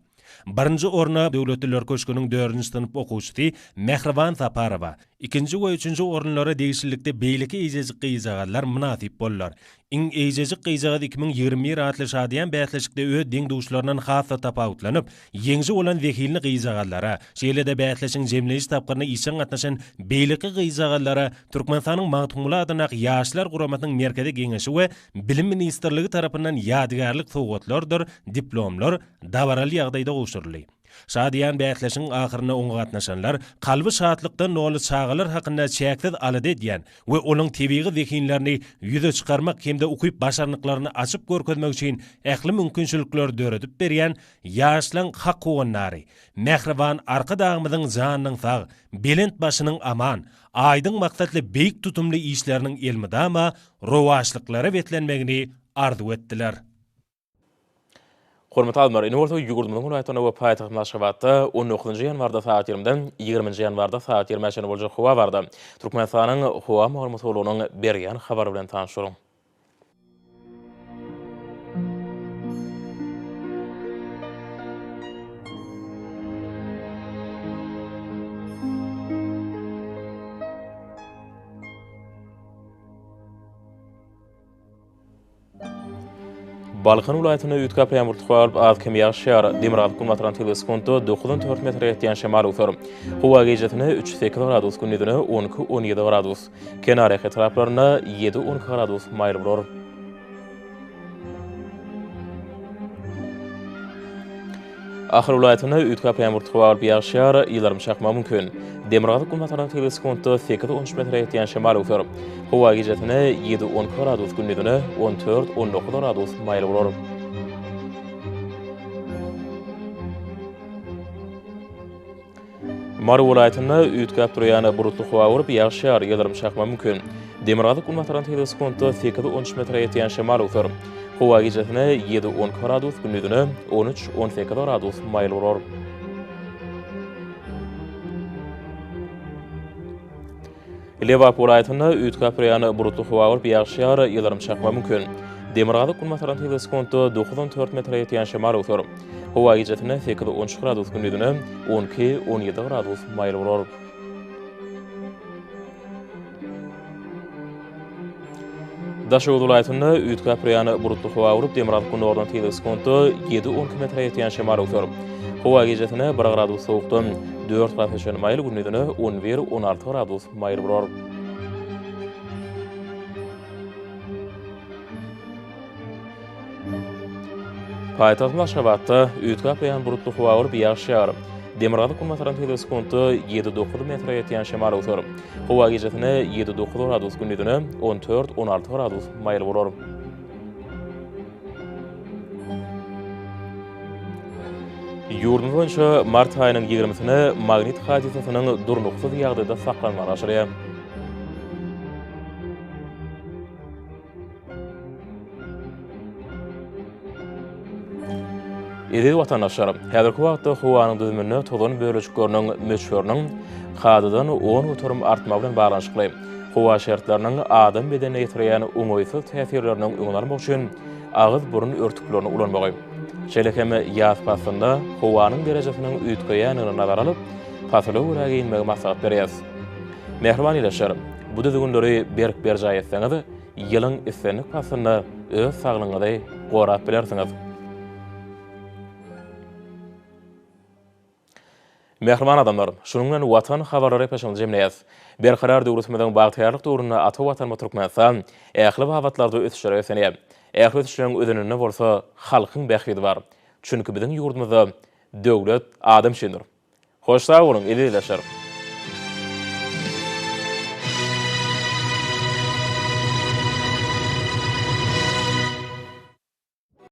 birinji orna Döwletliler köşgüniň dördünji synp okuwçysy Mähriban Saparowa, ikinji we üçünji orunlara degişlilikde beýleki eýjejik gyzjagazlar mynasyp boldular. Iň eýjejik gyzjagaz iki müň ýigrimi bir atly şadyýan bäsleşikde öz deň-duşlaryndan has-da tapawutlanyp, ýeňji bolan zehinli gyzjagazlara, şeýle-de bäsleşigiň jemleýji tapgyryna işjeň gatnaşan beýleki gyzjagazlara Türkmenistanyň Magtymguly adyndaky Ýaşlar guramasynyň Merkezi Geňeşi we Bilim ministrligi tarapyndan ýadygärlik sowgatlardyr diplomlar dabaraly ýagdaýda gowşuryldy. Şadyýan bäsleşigiň ahyrynda oňa gatnaşanlar kalby şatlykdan doly çagalar hakynda çäksiz alada edýän we olaň tebigy zehinlerini ýüze çykarmak hem-de ukyp-başarnyklaryny açyp görkezmek üçin ähli mümkinçilikleri döredip berýän ýaşlaň hak howandary, mähriban Arkadagymyzyň janynyň sag, belent başynyň aman, aýdyň maksatly beýik tutumly işleriniň elmydama rowaçlyklara beslenmegini arzuw etdiler. Hormatly alymlar, indi bolsa ýurdumyzyň welaýatlarynda we paýtagtymyz Aşgabatda on dokuzynjy ýanwarda sagat ýigrimiden ýigriminji ýanwarda sagat ýigrimä çenli boljak howa barada Türkmenistanyň Howa maglumat gullugynyň berýän habary bilen tanyşalyň. Balkan welaýatynda üýtgäp ýagmurlyk galyp, az-kem ýagyş ýagar. Demirgazyk-günbatardan tebigy sekuntda dokuzdan dört metre ýetýän şemal öwser. Howa gijesine üç-sekiz gradus, gündizine on iki-on ýedi gradus, kenarýaka etraplarynda ýedi-on iki gradus maýyl bolar. Ahal welaýatynda üýtgäp ýaňbur tutup alyp ýagşýar, ýyldyrym çakmagy mümkin. Demirgazyk-günbatardan tigri sekuntda sekiz-on üç metre ýetýän şemal öwser. Howa gijesine ýedi-on iki gradus, gündizine on dört-on dokuz gradus maýyl bolar. Mary welaýatynda üýtgäp durýan bulutly howa bolup, ýagyş ýagar, ýyldyrym çakma mümkin. Demirgazyk-günbatardan tizligi sekuntda sekiz-on üç metre ýetýän şemal öwser. Howa gijesine ýedi-on iki gradus, gündizine on üç-on sekiz gradus maýyl bolar. Lebap welaýatynda üýtgäp-üýýän bulutly howa bolup, ýagşy ýagar, ýyldyrym çakmagy mümkin. Demirgazyk-günbatardan sekiz sekuntda dokuz on dört metre ýetýän şemal öwser. Howa gijesine sekiz on üç gradus, gündizine on iki on ýedi gradus maýyl bolar. Daşoguz welaýatynda üýtgäp-üräýän bulutly howa bolup, demirgazyk günordan tizligi sekuntda ýedi-on km ýetýän şemal öwser. Howa gijesine bir gradus sowukdan dört gradusa çenli maýyl, gündizine on bir-on alty gradus maýyl bolar. Paýtagtymyz Aşgabatda üýtgäp gaýan bulutly howa bolup, ýagyş ýagar. Demirgazyk-günbatardan tizligi sekuntda ýedi-dokuz metre ýetýän şemal öwser. Howa gijesine ýedi-dokuz gradus, gündizine on dört-on alty gradus maýyl bolar. Ýurdumyz boýunça mart aýynyň ýigrimisine magnit hadysasynyň durnuksyz ýagdaýda saklanmagy başarýar. Eziz watandaşlar, häzirki wagtda howanyň düzüminde tozan bölejikleriniň möçberiniň kadadan on göterim artmagy bilen baglanyşykly, howa şertleriniň adam bedenine ýetirýän oňaýsyz täsirleriniň öňüni almak üçin agyz-burun örtüklerini ulanmagy, şeýle hem ýaz paslynda howanyň derejesiniň üýtgeýändigini nazara alyp, pasyla görä geýinmegi maslahat berýäris. Mähriban ildeşler, bu düzgünleri berk berjaý etseňiz, Ýylyň islendik paslynda öz saglygyňyzy gorap bilersiňiz. Mähriban adamlar, şunuň bilen Watan habarlary epeşigini jemleýäs. Berkarar döwletimiziň bagtyýarlyk döwründe ata Watanymyz Türkmenistan ähli babatlarda ösüşlere ösenýär. Ähli ösüşleriň özeninde bolsa halkyň bähbidi bar. Çünki biziň ýurdumyzda döwlet adam üçindir. Hoş sag boluň ezizleşer.